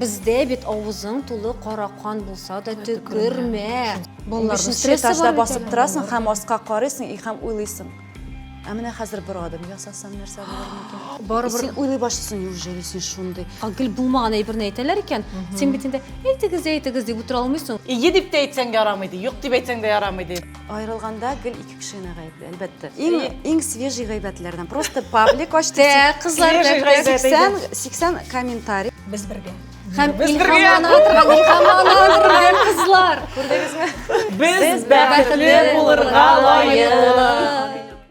Бездә бит авызың тулы кара кан булса да төкермә. Балаларны этажда басып торасың һәм аска карыйсың и һәм уйлыйсың. Ә менә хәзер бер адым ясасам нәрсә булыр микән? Барыбер син уйлый башлыйсың, неужели син шундый? Гел булмаган әйберне әйтәләр икән. Син бит инде әйтегез, әйтегез дип утыра алмыйсың. Ие дип тә әйтсәң ярамый ди, юк дип әйтсәң дә ярамый ди. Айрылганда гел ике кешене гаепле, әлбәттә. Иң иң свежий гайбәтләрдән. Просто паблик ачты. Тә, кызлар белән гайбәт 80 80 комментарий. Без бергә. Һәм илһамлана торган, илһамлана торган кызлар. Күрдегезме? Без бәхетле булырга лаек.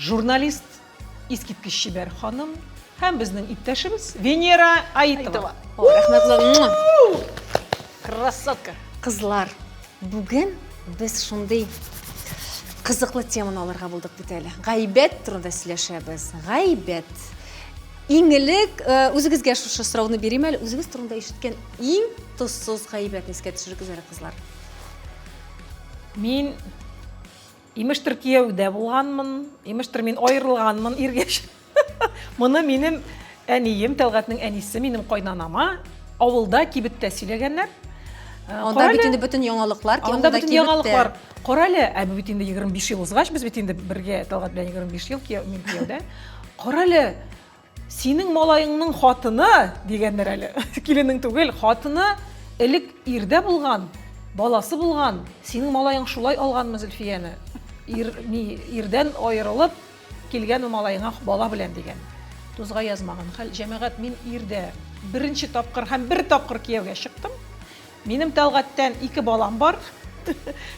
Журналист, искиткеч чибәр ханым һәм безнең иптәшебез Венера Аитова. Красотка! Кызлар, бүген без шундый кызыклы теманы алырга булдык бит әле. Гайбәт турында сөйләшәбез. Гайбәт. Иң элек э, үзегезгә шушы сорауны бирим әле. Үзегез турында ишеткән иң тозсыз гайбәтне искә төшерегез әле, кызлар. Мин Имештер кияүдә булганмын, имештер мин аерылганмын иргә. Моны минем әнием, Тәлгатнең әнисе, минем кайнанама авылда кибеттә сөйләгәннәр. Э, Анда бит инде бөтен яңалыклар, анда бөтен яңалыклар. Кара әле, ә бит инде 25 ел узгач, без бит инде бергә Тәлгат белән 25 ел кияү, мин кияүдә. Кара әле, Синең малаеңның хатыны, дигәннәр әле. Киленең түгел, хатыны элек ирдә булган, баласы булган. Синең малаең шулай алганмы Зөлфияне? Ир, ни, ирдән аерылып килгәнме малаеңа бала белән, дигән. Тузга язмаган хәл, җәмәгать, мин ирдә беренче тапкыр һәм бер тапкыр кияүгә чыктым. Минем Тәлгатьтән ике балам бар.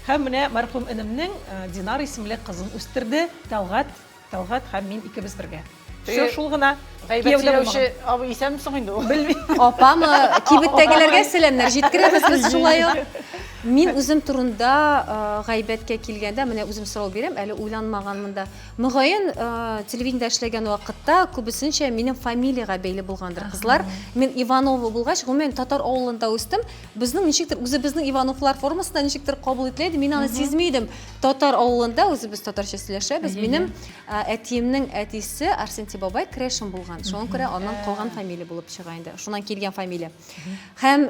Һәм менә мәрхүм энемнең Динар исемле кызын үстерде Тәлгать. Тәлгать һәм мин икебез бергә. Все, шул гына. Гайбәт сөйләүче абый исәнмесең инде ул? Белмим. Апамы, кибеттәгеләргә сәламнәр җиткерәбез без шулай ук. Мин үзем турында э, гайбәткә килгәндә, менә үзем сорау бирәм, әле уйланмаганмын да. Мөгаен, э, телевидениедә эшләгән вакытта күбесенчә минем фамилиягә бәйле булгандыр кызлар. Мин Иванова булгач, гомумән татар авылында үстем. Безнең ничектер үзебезнең Ивановлар формасында ничектер кабул ителә иде, мин аны сизми идем. Татар авылында үзебез татарча сөйләшәбез. Минем әтиемнең әтисе Арсентий бабай Крешин булган. Шуңа күрә аннан калган фамилия булып чыга инде. Шуннан килгән фамилия. Һәм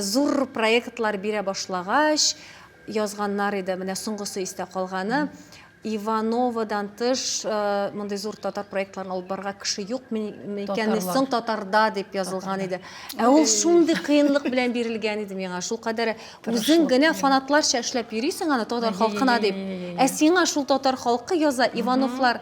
зур проектлар бирә башлагач, язганнар иде. Менә соңгысы истә калганы. Ивановадан тыш мондый зур татар проектларын алып барырга кеше юк микән соң татарда дип язылган иде. Ә ул шундый кыенлык белән бирелгән иде миңа. Шул кадәр Үзең генә фанатларча эшләп йөрисең аны татар халкына дип. Ә сиңа шул татар халкы яза, Ивановлар.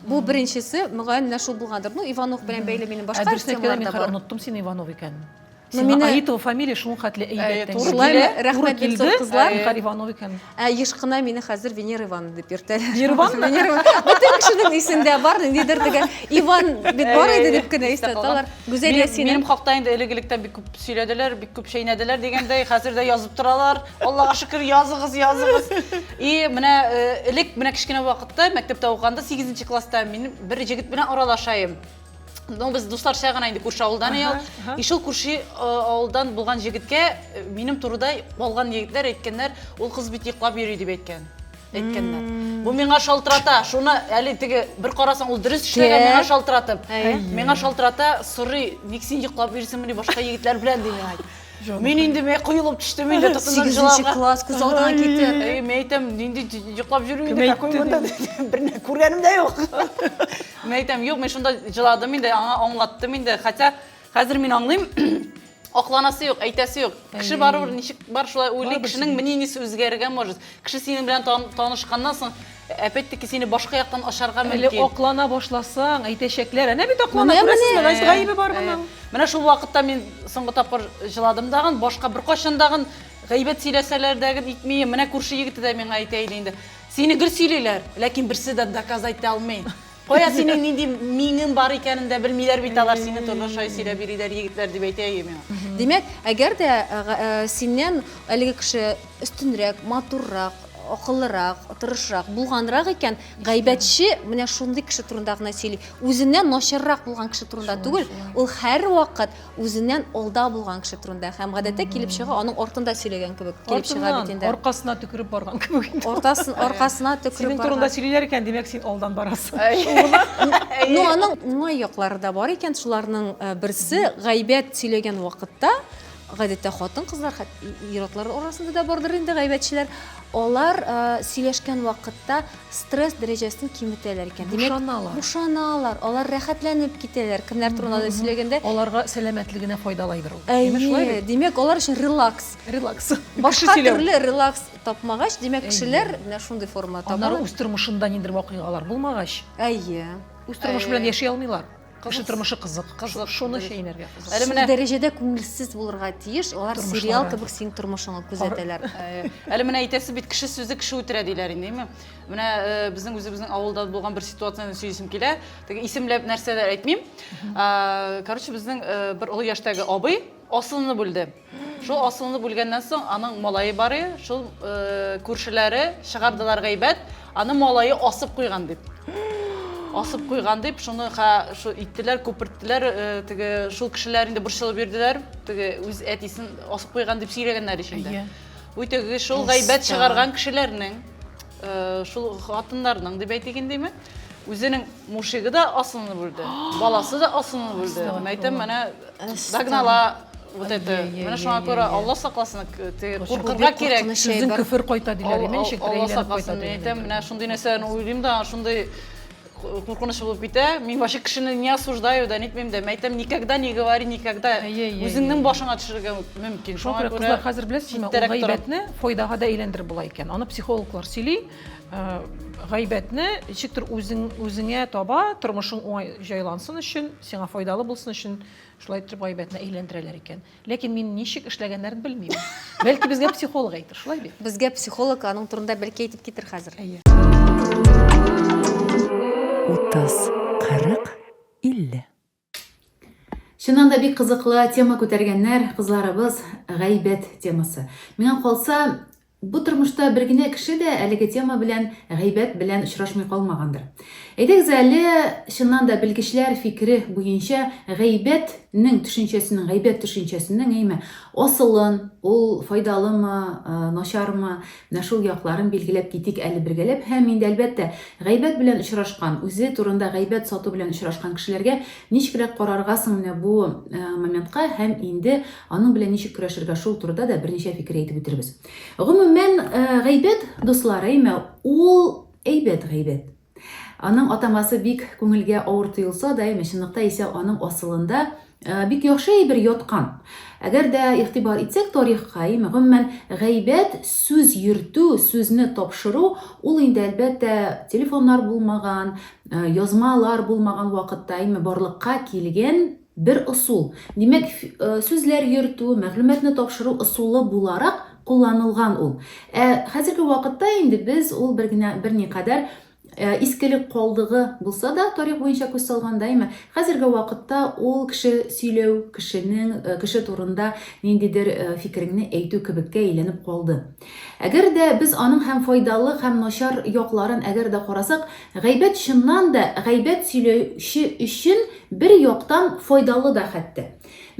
Бу беренчесе, мөгаен, менә шул булгандыр. Ну, Иванов белән бәйле минем башка темалар да бар. Оныттым син Иванов икәнен. Сиңа Аитова фамилия шул хәтле әйбәт. Шулай, рәхмәт бик зур кызлар. Иванов икән. Ә еш кына мине хәзер Венера Ивановна дип йөртәләр. Нирвана? Венера Ивановна. Бөтен кешенең исендә бар, ниндидер теге Иван бит бар иде дип кенә истә тоталар. Гүзәл Минем- Ясинең Минем хакта инде элек-электән бик күп сөйләделәр, бик күп чәйнәделәр дигәндәй, хәзер дә язып торалар. Аллага шөкер, языгыз, языгыз. И менә э, элек, менә кечкенә вакытта, мәктәптә укыганда, сигезенче класста, мин бер җегет белән аралашаем. ну без дусларча гына инде күрше авылдан ага, ага. и шул күрше авылдан булган җегеткә э, минем турыда алган егетләр әйткәннәр ул кыз бит йоклап йөри дип әйткән әйткәннәр бу миңа шалтырата шуны әле теге бер карасаң ул дөрес эшләгән миңа шалтыратып миңа шалтырата сорый ник син йоклап йөрисеңмени башка егетләр белән ди миңа Мин инде мен куелып төштем инде тотынып жылауга. класс күз алдына китте. Әй, мен әйтәм, нинди йоклап йөрмим инде, какой монда берне күргәнем дә юк. Мин әйтәм, юк, мин шунда җыладым инде, аңа аңлаттым инде. Хотя хәзер мин аңлыйм, акланасы юк, әйтәсе юк. Кеше барыбер ничек бар шулай уйлый, кешенең мнениесе үзгәрергә может. Кеше синең белән танышканнан соң опять-таки сине башка яктан ашарга мөмкин. Әле аклана башласаң, әйтәчәкләр. Әнә бит аклана, күрәсезме, Гайс гаебе бар моның. Менә шул вакытта мин соңгы тапкыр җыладым дагын, башка беркайчан дагын гайбәт сөйләсәләр дә итмим. Менә күрше егете дә миңа әйтә иде инде. Сине гел сөйлиләр, ләкин берсе дә доказ әйтә алмый. Кая синең нинди миңең бар икәнен дә белмиләр бит алар, сине торлы шай сөйләп йөриләр егетләр, дип әйтә әйе миңа. Димәк, әгәр дә синнән әлеге кеше өстенрәк, матуррак, акыллырак, тырышрак, булганрак икән, гайбәтче менә шундый кеше турында гына сөйли. Үзеннән начаррак булган кеше турында түгел, ул һәрвакыт үзеннән алда булган кеше турында һәм гадәттә килеп чыга аның артында сөйләгән кебек килеп чыга бит инде. Аркасына төкереп барган кебек инде. Ортасын аркасына төкереп барган. Синең турында сөйлиләр икән, димәк син алдан барасың. Ну аның уңай яклары да бар икән, шуларның э, берсе гайбәт сөйләгән вакытта гадәттә хатын-кызлар ир-атлар арасында да бардыр инде гайбәтчеләр. Алар э, сөйләшкән вакытта стресс дәрәҗәсен киметәләр икән. Бушаналар. Бушаналар, алар рәхәтләнеп китәләр. Кемнәр турында да сөйләгәндә. Аларга сәламәтлегенә файдалайдыр ул. Әйе, димәк, алар өчен релакс. Релакс. Башка төрле релакс тапмагач, димәк, кешеләр менә шундый форма табалар. Аннары үз тормышында ниндидер вакыйгалар булмагач. Әйе. Үз тормышы белән яши алмыйлар. Кеше тормышы кызык. Кызык. Шуны чәйнәргә кызык. Әле менә дәрәҗәдә күңелсез булырга тиеш. Алар сериал кебек синең тормышыңны күзәтәләр. Әле менә әйтәсе бит, кеше сүзе кеше үтерә диләр инде, әйме? Менә э, безнең үзебезнең авылда булган бер ситуацияне сөйлисем килә. Теге исемләп нәрсәләр әйтмим. Короче, безнең э, бер олы яшьтәге абый асылны бүлде. Шул асылны бүлгәннән соң аның малае бар иде, шул күршеләре чыгардылар гайбәт, аны малае асып куйган дип. Асып куйган дип, шуны шул иттеләр, күперттеләр, теге шул кешеләр инде борчылып йөрделәр, теге үз әтисен асып куйган дип сөйләгәннәр ичендә. Бу теге шул гайбәт чыгарган кешеләрнең, шул хатыннарның дип әйтик индеме? Үзенең мушигы да асылынып үлде, баласы да асылынып үлде. Мен әйтәм, менә догнала вот это. Менә шуңа күрә Алла сакласын, куркырга кирәк. Сүзен көфер кайта диләр, имеш, Алла сакласын. Мен әйтәм, менә шундый нәрсәләрне уйлыйм да, шундый куркыныч булып китә. Мин вообще кешене не осуждаю да, нитмим дә. Мен әйтәм, никогда не говори никогда. Үзеңнең башыңа төшерергә мөмкин. Шуңа күрә, хәзер беләсезме, ул гайбәтне файдага да әйләндереп була икән. Аны психологлар сөйли. Э, гайбәтне ничектер үзең үзеңә таба тормышың уңай җайлансын өчен сиңа файдалы булсын өчен шулай итеп гайбәтне әйләндерәләр икән ләкин мин ничек эшләгәннәрен белмим бәлки безгә психолог әйтер шулай бит безгә психолог аның турында бәлки әйтеп китер хәзер әйе утыз кырык илле Чыннан да бик кызыклы тема күтәргәннәр кызларыбыз, гайбәт темасы. Миңа калса, бу тормышта бер генә кеше дә әлеге тема белән, гайбәт белән очрашмый калмагандыр. Әйдәгез әле, чыннан да белгечләр фикере буенча, гайбәтнең төшенчәсенең, гайбәт төшенчәсенең, әйме, асылын, ул файдалымы, начармы, Менә шул якларын билгеләп китик әле бергәләп һәм инде, әлбәттә, гайбәт белән очрашкан, үзе турында гайбәт сату белән очрашкан кешеләргә ничегрәк карарга соң менә бу моментка һәм инде аның белән ничек көрәшергә шул турыда да берничә фикер әйтеп үтербез. Гомумән, гайбәт, дуслар, әйме, ул әйбәт гайбәт. Аның атамасы бик күңелгә авыр тоелса да, әйме, чынлыкта исә аның асылында бик яхшы әйбер яткан. Әгәр дә игътибар итсәк тарихка, әйме, гомумән, гайбәт, сүз йөртү, сүзне тапшыру, ул инде, әлбәттә, телефоннар булмаган, язмалар булмаган вакытта, әйме, барлыкка килгән Бер ысул. Димәк, сүзләр йөртү, мәгълүматны тапшыру ысулы буларак кулланылган ул. Ә хәзерге вакытта инде без ул бер генә берникадәр искелек калдыгы булса да, тарих буенча күз салганда, әмма хәзерге вакытта ул кеше сөйләү, кешенең, кеше турында ниндидер фикереңне әйтү кебеккә әйләнеп калды. Әгәр дә без аның һәм файдалы һәм начар якларын әгәр дә карасак, гайбәт чыннан да гайбәт сөйләүче өчен бер яктан файдалы да хәтта.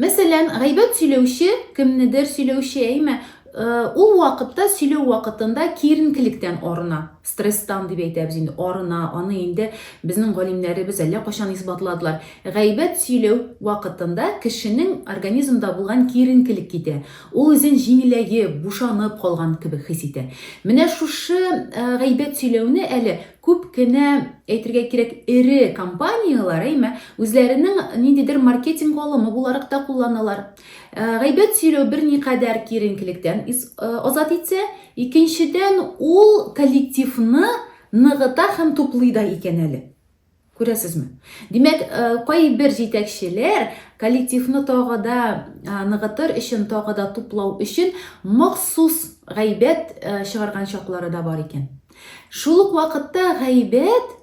Мәсәлән, гайбәт сөйләүче, кемнедер сөйләүче, әйме, ул вакытта сөйләү вакытында киеренкелектән арына, стресстан дип әйтәбез инде, арына, аны инде безнең галимнәребез әллә кайчан исбатладылар. Гайбәт сөйләү вакытында кешенең организмда булган киеренкелек китә. Ул үзен җиңеләеп, бушанып калган кебек хис итә. Менә шушы гайбәт сөйләүне әле күп кенә, әйтергә кирәк, эре компанияләр, әйме, үзләренең ниндидер маркетинг алымы буларак та кулланалар. Гайбәт сөйләү берникадәр киеренкелектән азат итсә, икенчедән, ул коллективны ныгыта һәм туплый да икән әле. Күрәсезме? Димәк, э, кайбер җитәкчеләр коллективны тагы да э, ныгытыр өчен, тагы да туплау өчен махсус гайбәт э, чыгарган чаклары да бар икән. Шул ук вакытта гайбәт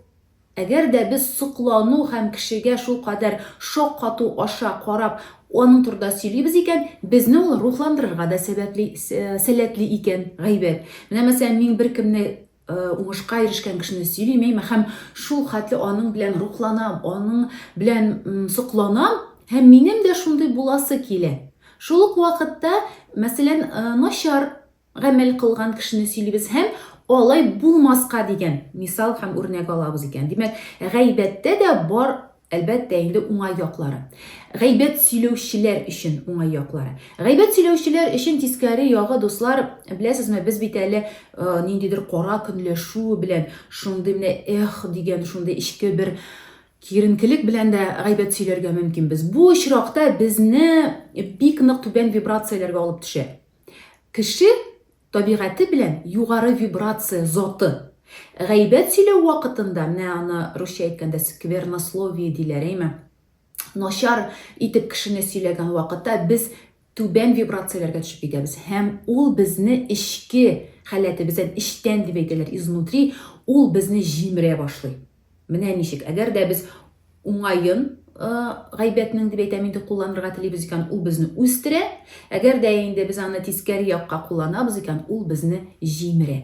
Әгәр дә без соклану һәм кешегә шул кадәр шок кату аша карап, аның турында сөйлибез икән, безне ул рухландырырга да сәбәпле сәләтле икән гайбәт. Менә мәсәлән, мин беркемне уңышка ирешкән кешене сөйлим әйме һәм шул хәтле аның белән рухланам, аның белән сокланам һәм минем дә шундый буласы килә. Шул ук вакытта, мәсәлән, начар гамәл кылган кешене сөйлибез һәм алай булмаска дигән мисал һәм үрнәк алабыз икән. Димәк, гайбәттә дә бар Әлбәттә инде уңай яклары. Гайбәт сөйләүчеләр өчен уңай яклары. Гайбәт сөйләүчеләр өчен тискәре ягы, дуслар, беләсезме, без бит әле ниндидер кара көнләшү белән, шундый менә эх дигән, шундый эчке бер киеренкелек белән дә гайбәт сөйләргә мөмкин без. Бу очракта безне бик нык түбән вибрацияләргә алып төшә. Кеше Табигате белән югары вибрация заты. Гайбәт сөйләү вакытында, менә аны русча әйткәндә сквернословие диләр, әйме? Начар итеп кешене сөйләгән вакытта без түбән вибрацияләргә төшеп китәбез һәм ул безне эчке халәтебездән, эчтән дип әйтәләр, изнутри, ул безне җимерә башлый. Менә ничек, әгәр дә без уңаен гайбәтнең дип әйтәм инде кулланырга телибез икән, ул безне үстерә. Әгәр дә инде без аны тискәре якка кулланабыз икән, ул безне җимерә.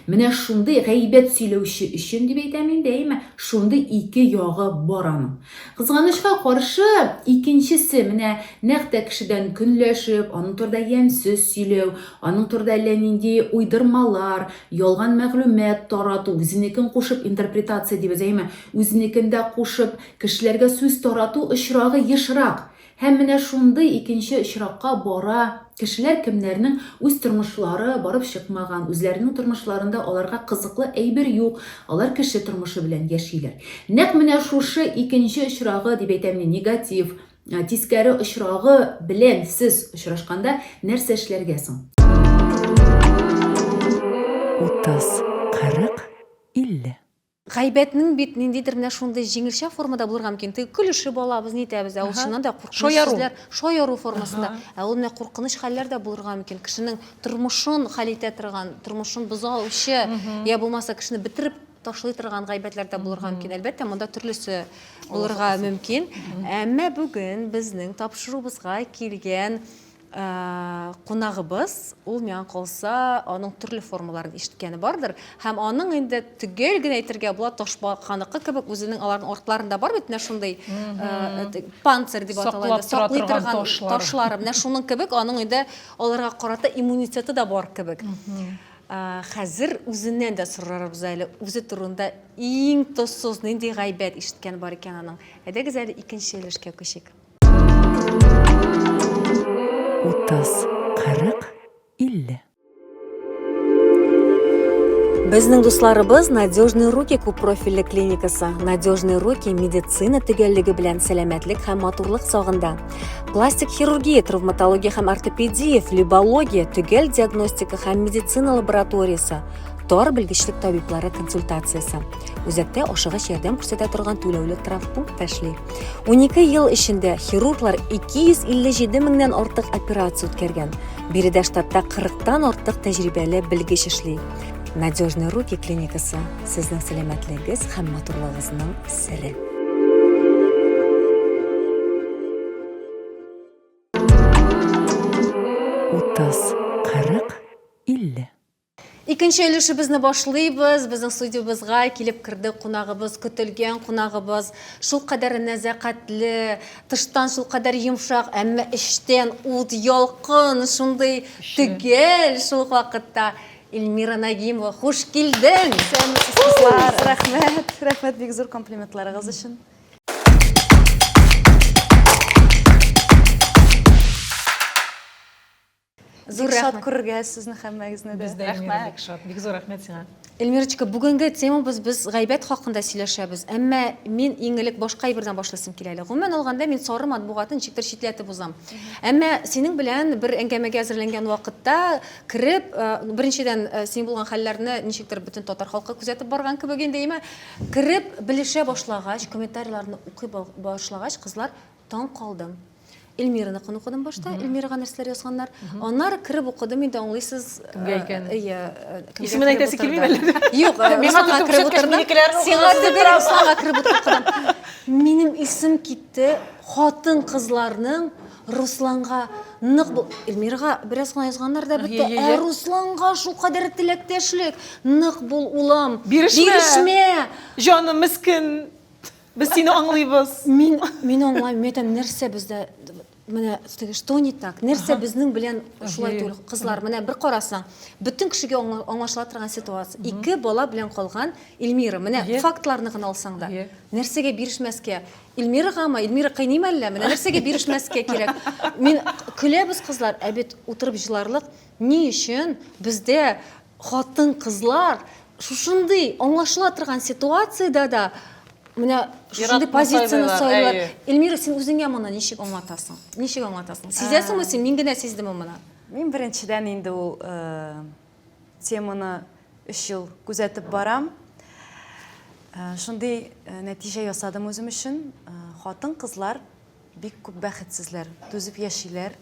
Менә шундый гайбәт сөйләүче өчен дип әйтәм инде, әйме, шундый ике ягы бар аның. Кызганычка каршы, икенчесе менә нәкъ тә кешедән көнләшеп, аның турында ямьсез сөйләү, аның турында әллә нинди уйдырмалар, Ялган мәгълүмат тарату, үзенекен кушып интерпретация дибез, әйеме, үзенекен дә кушып, кешеләргә сүз тарату очрагы ешрак. Һәм менә шундый икенче очракка бара кешеләр, кемнәрнең үз тормышлары барып чыкмаган, үзләренең тормышларында аларга кызыклы әйбер юк, алар кеше тормышы белән яшиләр. Нәкъ менә шушы икенче очрагы, дип әйтәм мин, негатив, Ә, тискәре очрагы белән сез очрашканда нәрсә эшләргә соң? 30, 40, 50. Гайбәтнең бит ниндидер менә шундый җиңелчә формада булырга мөмкин. Теге көлешеп алабыз, нитәбез, ә ул Аһа. чыннан да куркыныч Шаяру. сүзләр, шаяру формасында. Ә ул менә куркыныч хәлләр дә булырга мөмкин. Кешенең тормышын хәл итә торган, тормышын бозаучы, я булмаса кешене бетереп ташлый торган гайбәтләр дә булырга мөмкин. Әлбәттә, монда төрлесе булырга мөмкин. Әмма бүген безнең тапшыруыбызга килгән кунагыбыз, ул миңа калса, аның төрле формаларын ишеткәне бардыр. Һәм аның инде төгәл генә әйтергә була, ташбаканыкы кебек үзенең аларның артларында бар бит менә шундый панцирь дип атала, саклый торган ташлар. Менә шуның кебек аның инде аларга карата иммунитеты да бар кебек. Хәзер үзеннән дә сорарбыз әле, үзе турында иң тозсыз нинди гайбәт ишеткән бар икән аның. Әйдәгез әле икенче өлешкә күчик. Утыз, кырык, илле. Безнең дусларыбыз Надежные руки күп профильле клиникасы, Надежные руки медицина төгәллеге белән сәламәтлек һәм матурлык сагында. пластик хирургия травматология һәм ортопедия флебология төгәл диагностика һәм медицина лабораториясе тар белгечлек табиблары консультациясе үзәктә ашыгыч ярдәм күрсәтә торган түләүле травмпункт та эшли унике ел эчендә хирурглар 257 меңнән артык операция үткәргән биредә штатта 40 тан артык тәҗрибәле белгеч эшли надежные руки клиникасы Сезнең сәламәтлегегез һәм матурлыгыгызның сере. Утыз, кырык, илле. Икенче өлешебезне башлыйбыз. Безнең студиябезгә килеп керде кунагыбыз, көтелгән кунагыбыз. Шул кадәр нәзакәтле, тыштан шул кадәр йомшак, әмма эчтән ут, ялкын, шундый төгәл шул ук вакытта. Эльмира Нагимова, хуш килдең! Исәнмесез, кызлар! Рәхмәт, рәхмәт бик зур комплиментларыгыз өчен. Зур Бик шат күрергә сезне һәммәгезне дә. Без дә Эльмира бик шат. Бик зур рәхмәт сиңа. Эльмирочка, бүгенге темабыз без гайбәт хакында сөйләшәбез. Әмма мин иң элек башка әйбердән башлыйсым килә әле. Гомумән алганда мин сары матбугатын ничектер читләтеп узам. Әмма синең белән бер әңгәмәгә әзерләнгән вакытта кереп, беренчедән, син булган хәлләрне ничектер бөтен татар халкы күзәтеп барган кебек инде, имә, кереп, белешә башлагач, комментарийларны укый башлагач, кызлар, таң калдым. Эльмираныкын укыдым башта, Эльмирага нәрсәләр язганнар. Аннары кереп укыдым инде, аңлыйсыз, кемгә икән? Ия, исемен әйтәсе килми әле. Юк, миңа кереп утырдым. Сиңа түгел, Русланга кереп утырдым. Минем исем китте, хатын-кызларның Русланга нык бу Эльмирга бераз гына язганнар да бетте. Ә Русланга шулкадәр теләктәшлек, нык бул улым. Бирешмә. Бирешмә. Җаным мискен. Без сине аңлыйбыз. Мин мин аңлайм, мин әйтәм, нәрсә бездә менә теге что не так? Нәрсә безнең белән шулай түгел, кызлар? Менә бер карасаң, бөтен кешегә аңлашыла торган ситуация. Ике бала белән калган Эльмира. Менә фактларны гына алсаң да. Нәрсәгә бирешмәскә? Ильмирагамы? Ильмира кыйныйм әллә? Менә нәрсәгә бирешмәскә кирәк. Мин көләбез кызлар, ә бит утырып җыларлык. Ни өчен бездә хатын-кызлар шушындый аңлашыла торган ситуациядә дә менә шушындый позицияне сайлар. Ильмира, син үзеңә моны ничек аңлатасың? Ничек аңлатасың? Сизәсеңме син? Мин генә сиздемме моны? Мин беренчедән инде ул теманы өч ел күзәтеп барам. Э, шундый э, нәтиҗә ясадым үзем өчен. Э, хатын-кызлар бик күп бәхетсезләр, түзеп яшиләр.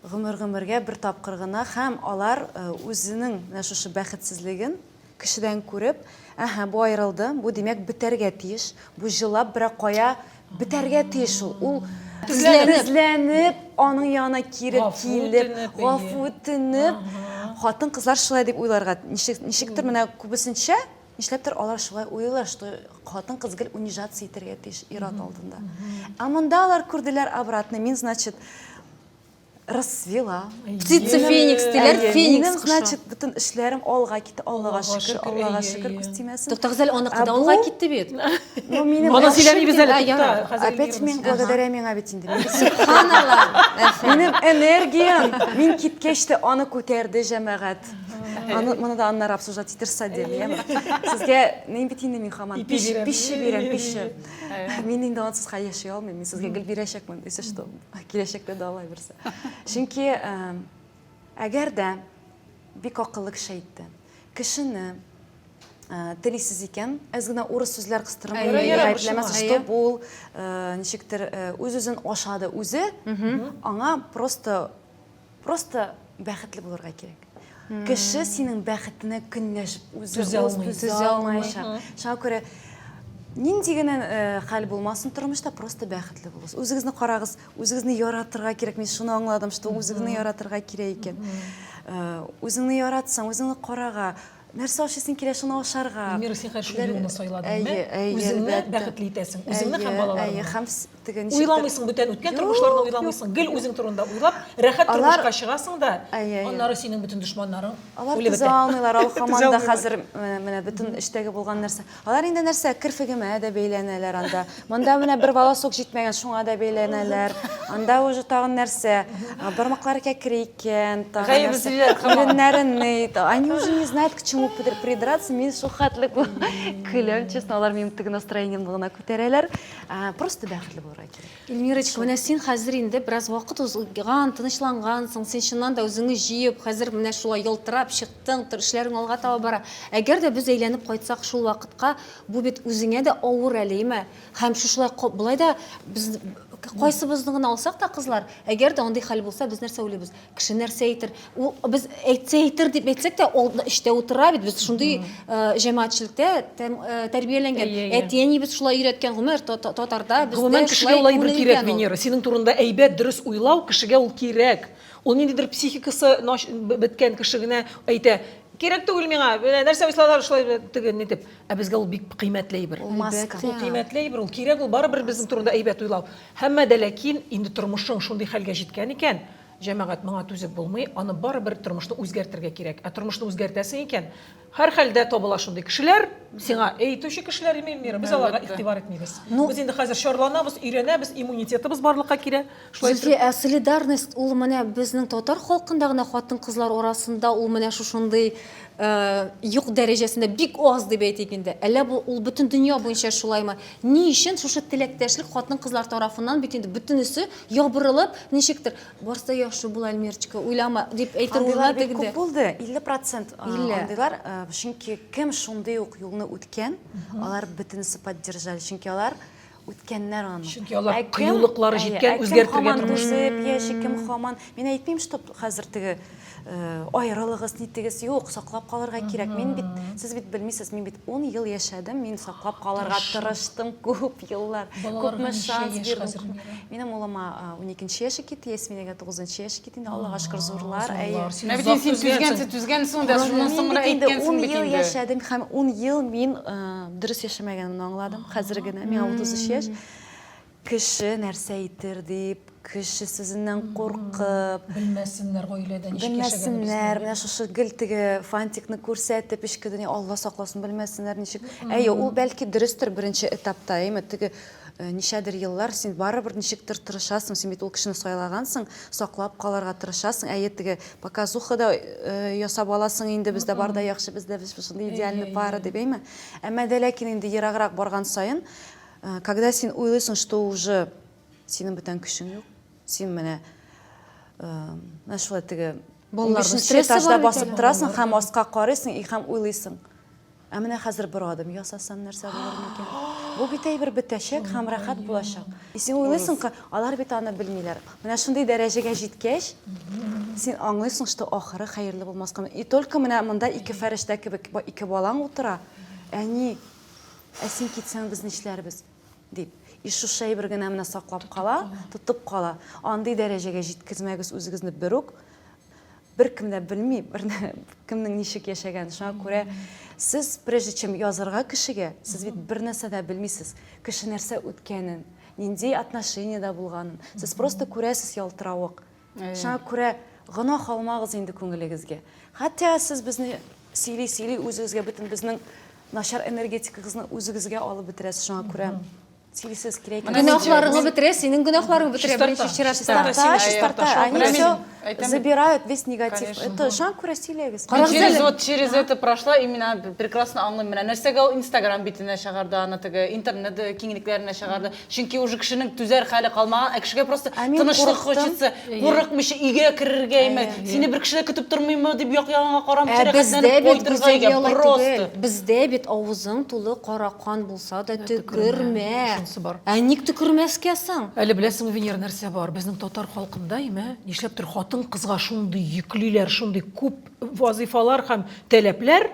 Гомер-гомергә бер тапкыр гына һәм алар үзенең менә шушы бәхетсезлеген Кешедән күреп, Әһә, бу аерылды, бу, димәк, бетәргә тиеш, бу җылап берәр кая бетәргә тиеш ул. Ул тезләнеп, аның янына кире килеп, гафу үтенеп, хатын-кызлар шулай дип уйларга, ничектер менә күбесенчә, нишләптер алар шулай уйлыйлар, что хатын-кыз гел унижаться итәргә тиеш ир-ат алдында. Ә монда алар күрделәр обратный, мин, значит, расцвела. Птица феникс диләр, феникс кошы. Значит, бөтен эшләрем алга китте, Аллага шөкер, Аллага шөкер, күз тимәсен. Туктагыз әле, аныкы да алга китте бит. Ну, минем Моны сөйләмибез әле, тукта. Опять мин благодаря миңа бит инде. Субханалла. Минем энергиям, мин киткәч тә аны күтәрде җәмәгать. Аны моны да аннары обсуждать итерсә дип, яме. Сезгә нин бит инде мин хаман пиш, пиш бирәм, пиш. Мин инде ансыз яши алмыйм. Мин сезгә гел бирәчәкмен, если что. Киләчәктә дә алай берсе. Чөнки әгәр дә бик акыллы кеше әйтте. Кешене телисез икән, әз генә урыс сүзләр кыстырып гаепләмәс, что бул, ничектер үз-үзен ашады үзе, аңа просто Просто бәхетле булырга кирәк. Кеше синең бәхетенә көнләшеп үзе түзә алмаячак. Шуңа күрә нинди генә э, хәл булмасын тормышта просто бәхетле булыгыз үзегезне карагыз үзегезне яратырга кирәк мин шуны аңладым что үзегезне яратырга кирәк икән э, үзеңне яратсаң үзеңне карага Нәрсә ашый син килә шуны ашарга. Эльмира, син хәзер шул юлны сайладың, әйе, әйе, үзеңне бәхетле итәсең, үзеңне һәм балаларыңны. Һәм теге ничек? Уйламыйсың бүтән үткән тормышларны уйламыйсың, гел үзең турында уйлап, рәхәт тормышка чыгасың да, аннары синең бөтен дошманнарың үлеп бетә. Алар түзә алмыйлар, алар һаман да хәзер менә бөтен эчтәге булган нәрсә. Алар инде нәрсә, керфегемә дә бәйләнәләр анда. Монда менә бер волосок җитмәгән, шуңа да бәйләнәләр. Анда уже тагын нәрсә? А, Бармаклары кәкре икән, тагын Гаебе нәрсә? сөйләр кымыл. Иреннәрен ни? Та- Они уже не знают, к чему пидр- придраться. Мин шул хәтле кул- көләм, честно, алар минем теге настроениемне гына күтәрәләр. А, Просто бәхетле булырга кирәк. Ильмирочка, менә син хәзер инде бераз вакыт узган, тынычлангансың, син чыннан да үзеңне җыеп, хәзер менә шулай ялтырап чыктың, тор, эшләрең алга таба бара. Әгәр дә без әйләнеп кайтсак шул вакытка, бу бит үзеңә дә авыр әле, име? Һәм шушылай ко, болай да без, кайсыбызны гына алсак та, кызлар, әгәр дә андый хәл булса, без нәрсә уйлыйбыз? Кеше нәрсә әйтер? Ул без әйтсә әйтер дип әйтсәк тә, ул эчтә утыра бит. Без шундый э, җәмәгатьчелектә тәм- э, тәрбияләнгән. Әйе, әйе. Әти-әнибез шулай өйрәткән, гомер та- та- татарда бездә Гомумән, кешегә шулай улай бер күнелгән кирәк, ул. Венера. Синең турында әйбәт, дөрес уйлау, кешегә ул кирәк. Ул ниндидер психикасы нач- б- беткән кеше генә әйтә, кирәк түгел миңа, менә нәрсә уйсалар, шулай б- теге, ни дип. Ә безгә ул бик кыйммәтле әйбер. Ул маска. Ул кыйммәтле әйбер, ул кирәк, ул барыбер безнең турында әйбәт уйлау. Һәммә дә ләкин, инде тормышың шундый хәлгә җиткән икән, җәмәгать, моңа түзеп булмый, аны барыбер тормышны үзгәртергә кирәк. Ә тормышны үзгәртәсең икән, һәрхәлдә табыла шундый кешеләр, сиңа әй итүче кешеләр, Эмиль Мира, без аларга игътибар итмибез. Без инде хәзер чарланабыз, өйрәнәбез, иммунитетыбыз барлыкка килә, шулай итеп. Зөлфия, ә солидарность ул менә безнең татар халкында гына хатын-кызлар арасында ул менә шушындый юк дәрәҗәсендә, бик аз дип әйтик инде. Әллә бу ул бөтен дөнья буенча шулаймы? Ни өчен шушы теләктәшлек хатын-кызлар тарафыннан бит инде бөтенесе ябырылып, ничектер, барысы да яхшы була, Эльмирочка, уйлама, дип әйтер Андыйлар бик күп булды, 50 процент андыйлар, чөнки кем шундый ук юлны үткән, алар бөтенесе поддержали, чөнки алар үткәннәр аны. Чөнки алар кыюлыклары җиткән, үзгәртергә тырышкан. Кем һаман түзеп яши, кем һаман, мин әйтмим, что хәзер теге Э, аерылыгыз нитегез юк саклап калырга кирәк мин бит сез бит белмисез мин бит ун ел яшәдем мин саклап калырга тырыштым күп еллар күпме шанс бирдем минем улыма уникенче яше китте ясминәгә тугызынчы яше китте инде аллага шөкер зурлар әйе син түзгәнсең түзгәнсең дә шуннан соңра әйткәнсең бит инде ун ел яшәдем һәм ун ел мин э, дөрес яшәмәгәнемне аңладым хәзер генә миңа утыз өч яшь Кеше нәрсә әйтер дип, кеше сүзеннән куркып. Белмәсеннәр, гаиләдә ничек яшәгәнебезне. Белмәсеннәр, менә шушы гел теге фантикны күрсәтеп, эчке дөнья, Алла сакласын, белмәсеннәр ничек. Әйе, ул бәлки дөрестер беренче этапта, әйеме, теге ничәдер еллар син барыбер ничектер тырышасың, син бит ул кешене сайлагансың, саклап калырга тырышасың, әйе, теге показуха да ясап аласың инде, бездә бар да яхшы, бездә шундый идеальный пара дип, әйеме. Әмма дә ләкин инде ераграк барган саен, Когда син уйлыйсың, что уже синең бүтән көчең юк, син менә менә шулай теге балаларның стрессы бар басып торасың һәм аска карыйсың и һәм уйлыйсың. Ә менә хәзер бер адым ясасам нәрсә булыр микән? Бу бит әйбер бетәчәк һәм рәхәт булачак. И син уйлыйсың, алар бит аны белмиләр. Менә шундый дәрәҗәгә җиткәч, син аңлыйсың, что ахыры хәерле булмаска. И только менә монда ике фәрештә кебек ике балаң утыра. Әни, Ә син китсәң, без нишләрбез? дип. И шушы әйбер генә менә саклап кала, тотып кала. Андый дәрәҗәгә җиткезмәгез үзегезне бер үк. Беркем дә белми, бер кемнең ничек яшәгәнен. Шуңа күрә сез, прежде чем язырга кешегә, сез бит бер нәрсә дә белмисез. Кеше нәрсә үткәнен, нинди отношениедә булганын. Сез просто күрәсез ялтыравык. Шуңа күрә гөнаһ алмагыз инде күңелегезгә. Хәтта сез безне сөйли-сөйли үзегезгә бөтен безнең начар энергетикагызны үзегезгә алып бетерәсез. Шуңа күрә сөйлисез кирәк икән. Гөнаһларыңны бетерә, синең гөнаһларың бетерә беренче чиратта. Тарта, чистарта. Они все забирают весь негатив. Это шуңа күрә сөйләгез. Через вот через это прошла и мина прекрасно аңлыйм. Менә нәрсәгә ул Инстаграм битенә чыгарды аны теге, интернет киңлекләренә чыгарды. Чөнки уже кешенең түзәр хәле калмаган, ә кешегә просто Ә мин тынычлык курыктым. хочется, курыкмыйча өйгә керергәме, Әйе. сине бер кеше дә көтеп тормыймы дип як-ягыңа карамыйча Ә бездә рәхәтләнеп бит кайтырга гүзәлия өйгә алай просто. түгел. Бездә бит авызың тулы кара кан булса да төкермә. Шунысы бар. Ә ник төкермәскә соң? Әле беләсеңме, Венера, нәрсә бар? Безнең татар халкында, имә, нишләптер хатын-кызга шундый йөклиләр, шундый күп вазыйфалар һәм таләпләр,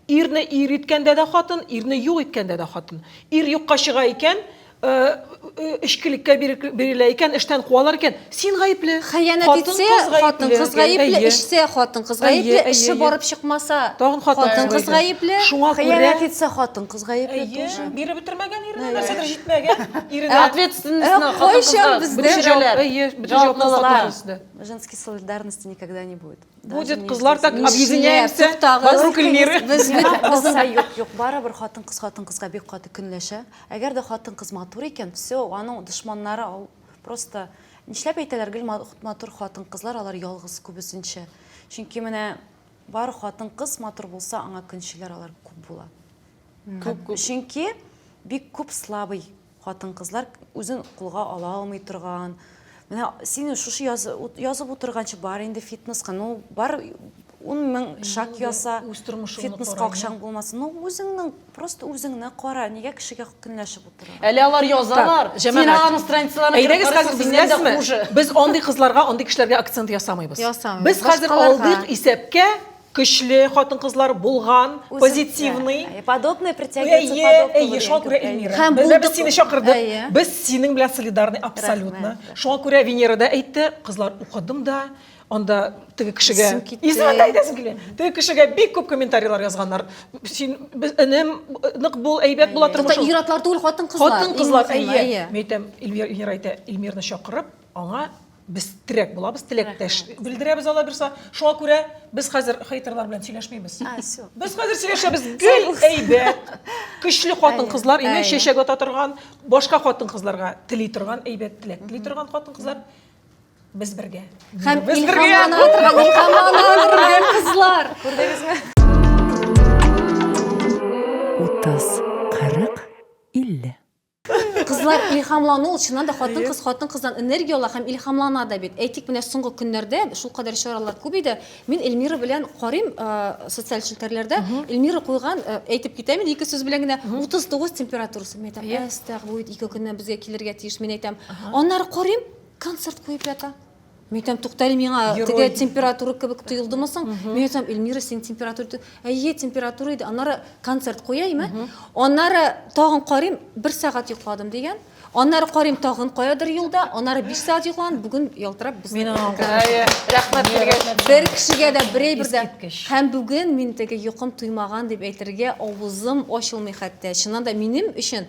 Ирне ир иткәндә дә хатын, ирне юк иткәндә дә хатын. Ир юкка чыга икән, эчкелеккә бирелә икән, эштән куалар икән, син гаепле. Хыянәт итсә, хатын кыз гаепле, эчсә, хатын кыз гаепле, эше барып чыкмаса, хатын кыз гаепле. Шуңа күрә хыянәт итсә, хатын кыз гаепле тоже. Әйе, биреп бетермәгән иренә, нәрсәдер җитмәгән иренә. Ответственностьны хатын кызга күчерәләр. Җаваплылыкны. Женский солидарности никогда не будет. Будет кызлар так объединяемся вокруг Эльмиры. Кызлар юк, юк, барыбер хатын кыз хатын кызга бик каты көнләшә. Әгәр дә хатын кыз матур икән, все, аның дошманнары просто нишләп әйтәләр гел матур хатын кызлар алар ялгыз күбесенчә. Чөнки менә бар хатын кыз матур булса, аңа көнчеләр алар күп була. Чөнки бик күп слабый Хатын-кызлар үзен кулга ала алмый торган, менә син шушы язып утырганчы бар инде фитнеска, ну бар ун мең шаг яса, фитнеска акчаң булмасын, ну үзеңнең, просто үзеңне кара, нигә кешегә көнләшеп утыра? Әле алар язалар, син аларның страницаларына кереп карасаң, синнән дә хуже. Без андый кызларга, андый кешеләргә акцент ясамыйбыз. Без хәзер алдык исәпкә, көчле хатын-кызлар булган, позитивный. Подобное притягивается подобное. Әйе, шуңа күрә Эльмира. Без дә сине чакырдык. Без синең белән солидарны абсолютно. Шуңа күрә Венера да әйтте, кызлар, укыдым да, анда теге кешегә исемен дә әйтәсем килә. Теге кешегә бик күп комментарийлар язганнар. Син энем, нык бул, әйбәт була тормышың. Ир-атлар түгел, хатын-кызлар. Хатын-кызлар, әйе. Мин әйтәм, Эльмира әйтә, Эльмирны чакырып, Аңа без терәк булабыз, теләктәш белдерәбез алла бирса. Шуңа күрә без хәзер хейтерлар белән сөйләшмибез. Без хәзер сөйләшәбез. Гел әйбәт. Көчле хатын-кызлар, имә чәчәк ата торган, башка хатын-кызларга тели торган, әйбәт теләк тели торган хатын-кызлар без бергә. Һәм без бергә. Илһам ана торган, Илһам ана торган кызлар. Күрдегезме? 30 40 50 Кызлар илһамлану ул чыннан да хатын-кыз хатын-кыздан энергия ала һәм илһамлана да бит. Әйтик, менә соңгы көннәрдә шул кадәр чаралар күп иде. Мин Эльмира белән карыйм э, социаль челтәрләрдә. Эльмира куйган, э, әйтеп китәм инде ике сүз белән генә, 39 температурасы. Мин әйтәм, әстәгъфирулла, ике көннән безгә килергә тиеш. Мин әйтәм, аннары карыйм, концерт куеп ята. Мен айтам, тоқтали миңа теге температура кебек тойылдымы соң? Мен айтам, Эльмира, сен температура әйе, температура иде. Аннары концерт куяйм, ә? Аннары тагын карыйм, бер сәгать йокладым дигән. Аннары карыйм тагын каядыр юлда, аннары 5 сәгать йоклаган, бүген ялтырап без. Мин рәхмәт бергә. Бер кешегә дә бер әйбер дә. Һәм бүген мин теге йокым туймаган дип әйтергә авызым ачылмый хәтта. Чыннан да минем өчен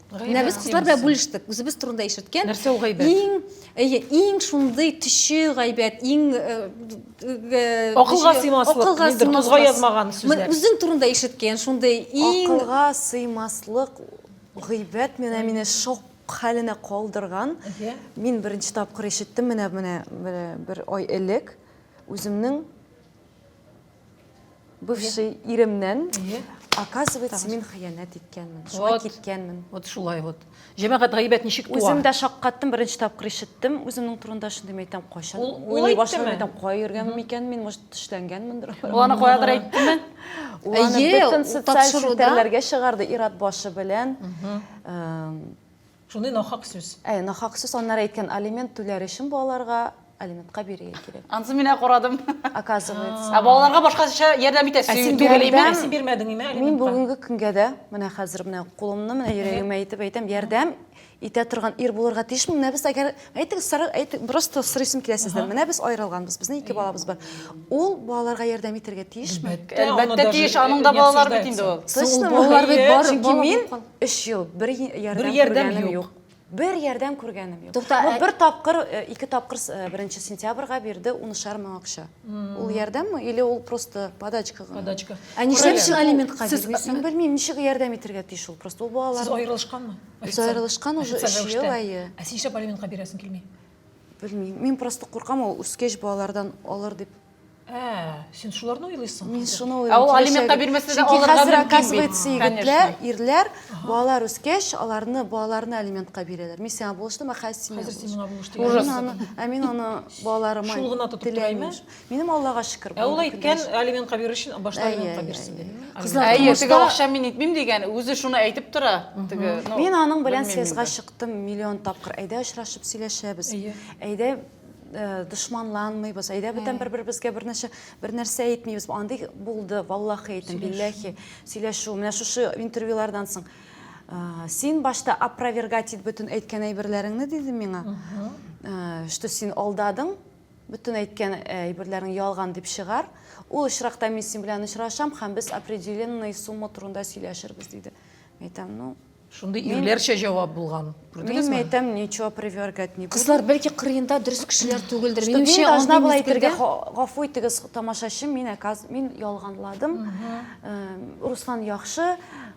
Менә без кызлар белән бүлештек, үзебез турында ишеткән. Нәрсә ул гайбәт? Иң, әйе, иң шундый төче гайбәт, иң э, э, акылга сыймаслык, акылга сыймаслык. язмаган сүзләр. Үзең турында ишеткән, шундый иң акылга сыймаслык гайбәт менә мине шок хәленә калдырган. Мин беренче тапкыр ишеттем менә менә бер ай элек үземнең Бывший иремнән, оказывается, мин хыянәт иткәнмен, шуңа киткәнмен. Вот шулай вот. Җәмәгать гайбәт ничек туа? Үзем дә шаккаттым, беренче тапкыр ишеттем. Үземнең турында шундый мәйтәм, кайчан уйлый башладым мәйтәм, кая йөргәнмен микән мин, может, төшләнгәнмендер. Ул аны каядыр әйттеме? Ул аны бөтен социаль челтәрләргә чыгарды, ир-ат башы белән. Шундый нахак сүз. Әйе, нахак сүз. Аннары әйткән, алимент түләр өчен балаларга алиментка бирергә кирәк. Ансын мин карадым. Оказывается. Ә балаларга башкача ярдәм итә. Ә син бирмәдеңме? Син бирмәдеңме алиментка? Мин бүгенге көнгә дә, менә хәзер менә кулымны менә йөрәгемә итеп әйтәм, ярдәм итә торган ир булырга тиешме? Менә без әгәр Әйтегез, сара, әйтег, просто сорыйсым килә сездән. Менә без аерылганбыз, безнең ике балабыз бар. Ул балаларга ярдәм итәргә тиешме? Әлбәттә тиеш, аның да балалар бит инде ул. Точно балалар бит бар. Чөнки мин 3 ел бер ярдәм күргәнем юк. Бер ярдәм күргәнем юк. Ну бер тапкыр, э, ике тапкыр 1 э, сентябрьгә бирде унышар мең акча. Ул ярдәмме или ул просто подачка гына? Подачка. Ә нишләп алиментка бирмисең? Белмим, ничек ярдәм итәргә тиеш ул просто ул балалар. Сез аерылышканмы? Без аерылышкан уже 3 ел әйе. Ә син нишләп алиментка бирәсең килми? Белмим. Мин просто куркам ул үскәч балалардан алыр дип. Ә, син шуларны уйлыйсың. Мин шуны уйлыйм. Ә ул алиментка бирмәсә дә алырга мөмкин. Хәзер оказывается егетләр, ирләр балалар үскәч, аларны балаларны алиментка бирәләр. Мин сиңа булыштым, ә хәзер син. Хәзер син миңа булыштың. Ә мин аны балаларыма. Шул гына тотып тораймы? Минем Аллага шөкер. Ә ул әйткән алимент кабер өчен башта алимент каберсен диде. Әйе, теге акча мин итмим дигән, үзе шуны әйтеп тора. Теге, ну. Мин аның белән сезгә чыктым миллион тапкыр. Әйдә очрашып сөйләшәбез. Әйдә э, дошманланмыйбыз. Әйдә бүтән бер-беребезгә бернәрсә бернәрсә әйтмибез. Андый булды, валлахи әйтәм, билләхи. Сөйләшү. Менә шушы интервьюлардан соң э, син башта опровергать ит бөтен әйткән әйберләреңне диде миңа. Э, что син алдадың, Бөтен әйткән әйберләрең ялган дип чыгар. Ул очракта мин син белән очрашам һәм без определенный сумма турында сөйләшербез, диде. Мәйтәм, ну, Шундый ирләрчә җавап булган. Күрдегезме? Мин әйтәм, ничего привергать не буду. Кызлар бәлки кырыенда дөрес кешеләр түгелдер. Что мин должна была әйтергә, гафу итегез, тамашачы, мин, мин ялганладым. Руслан яхшы.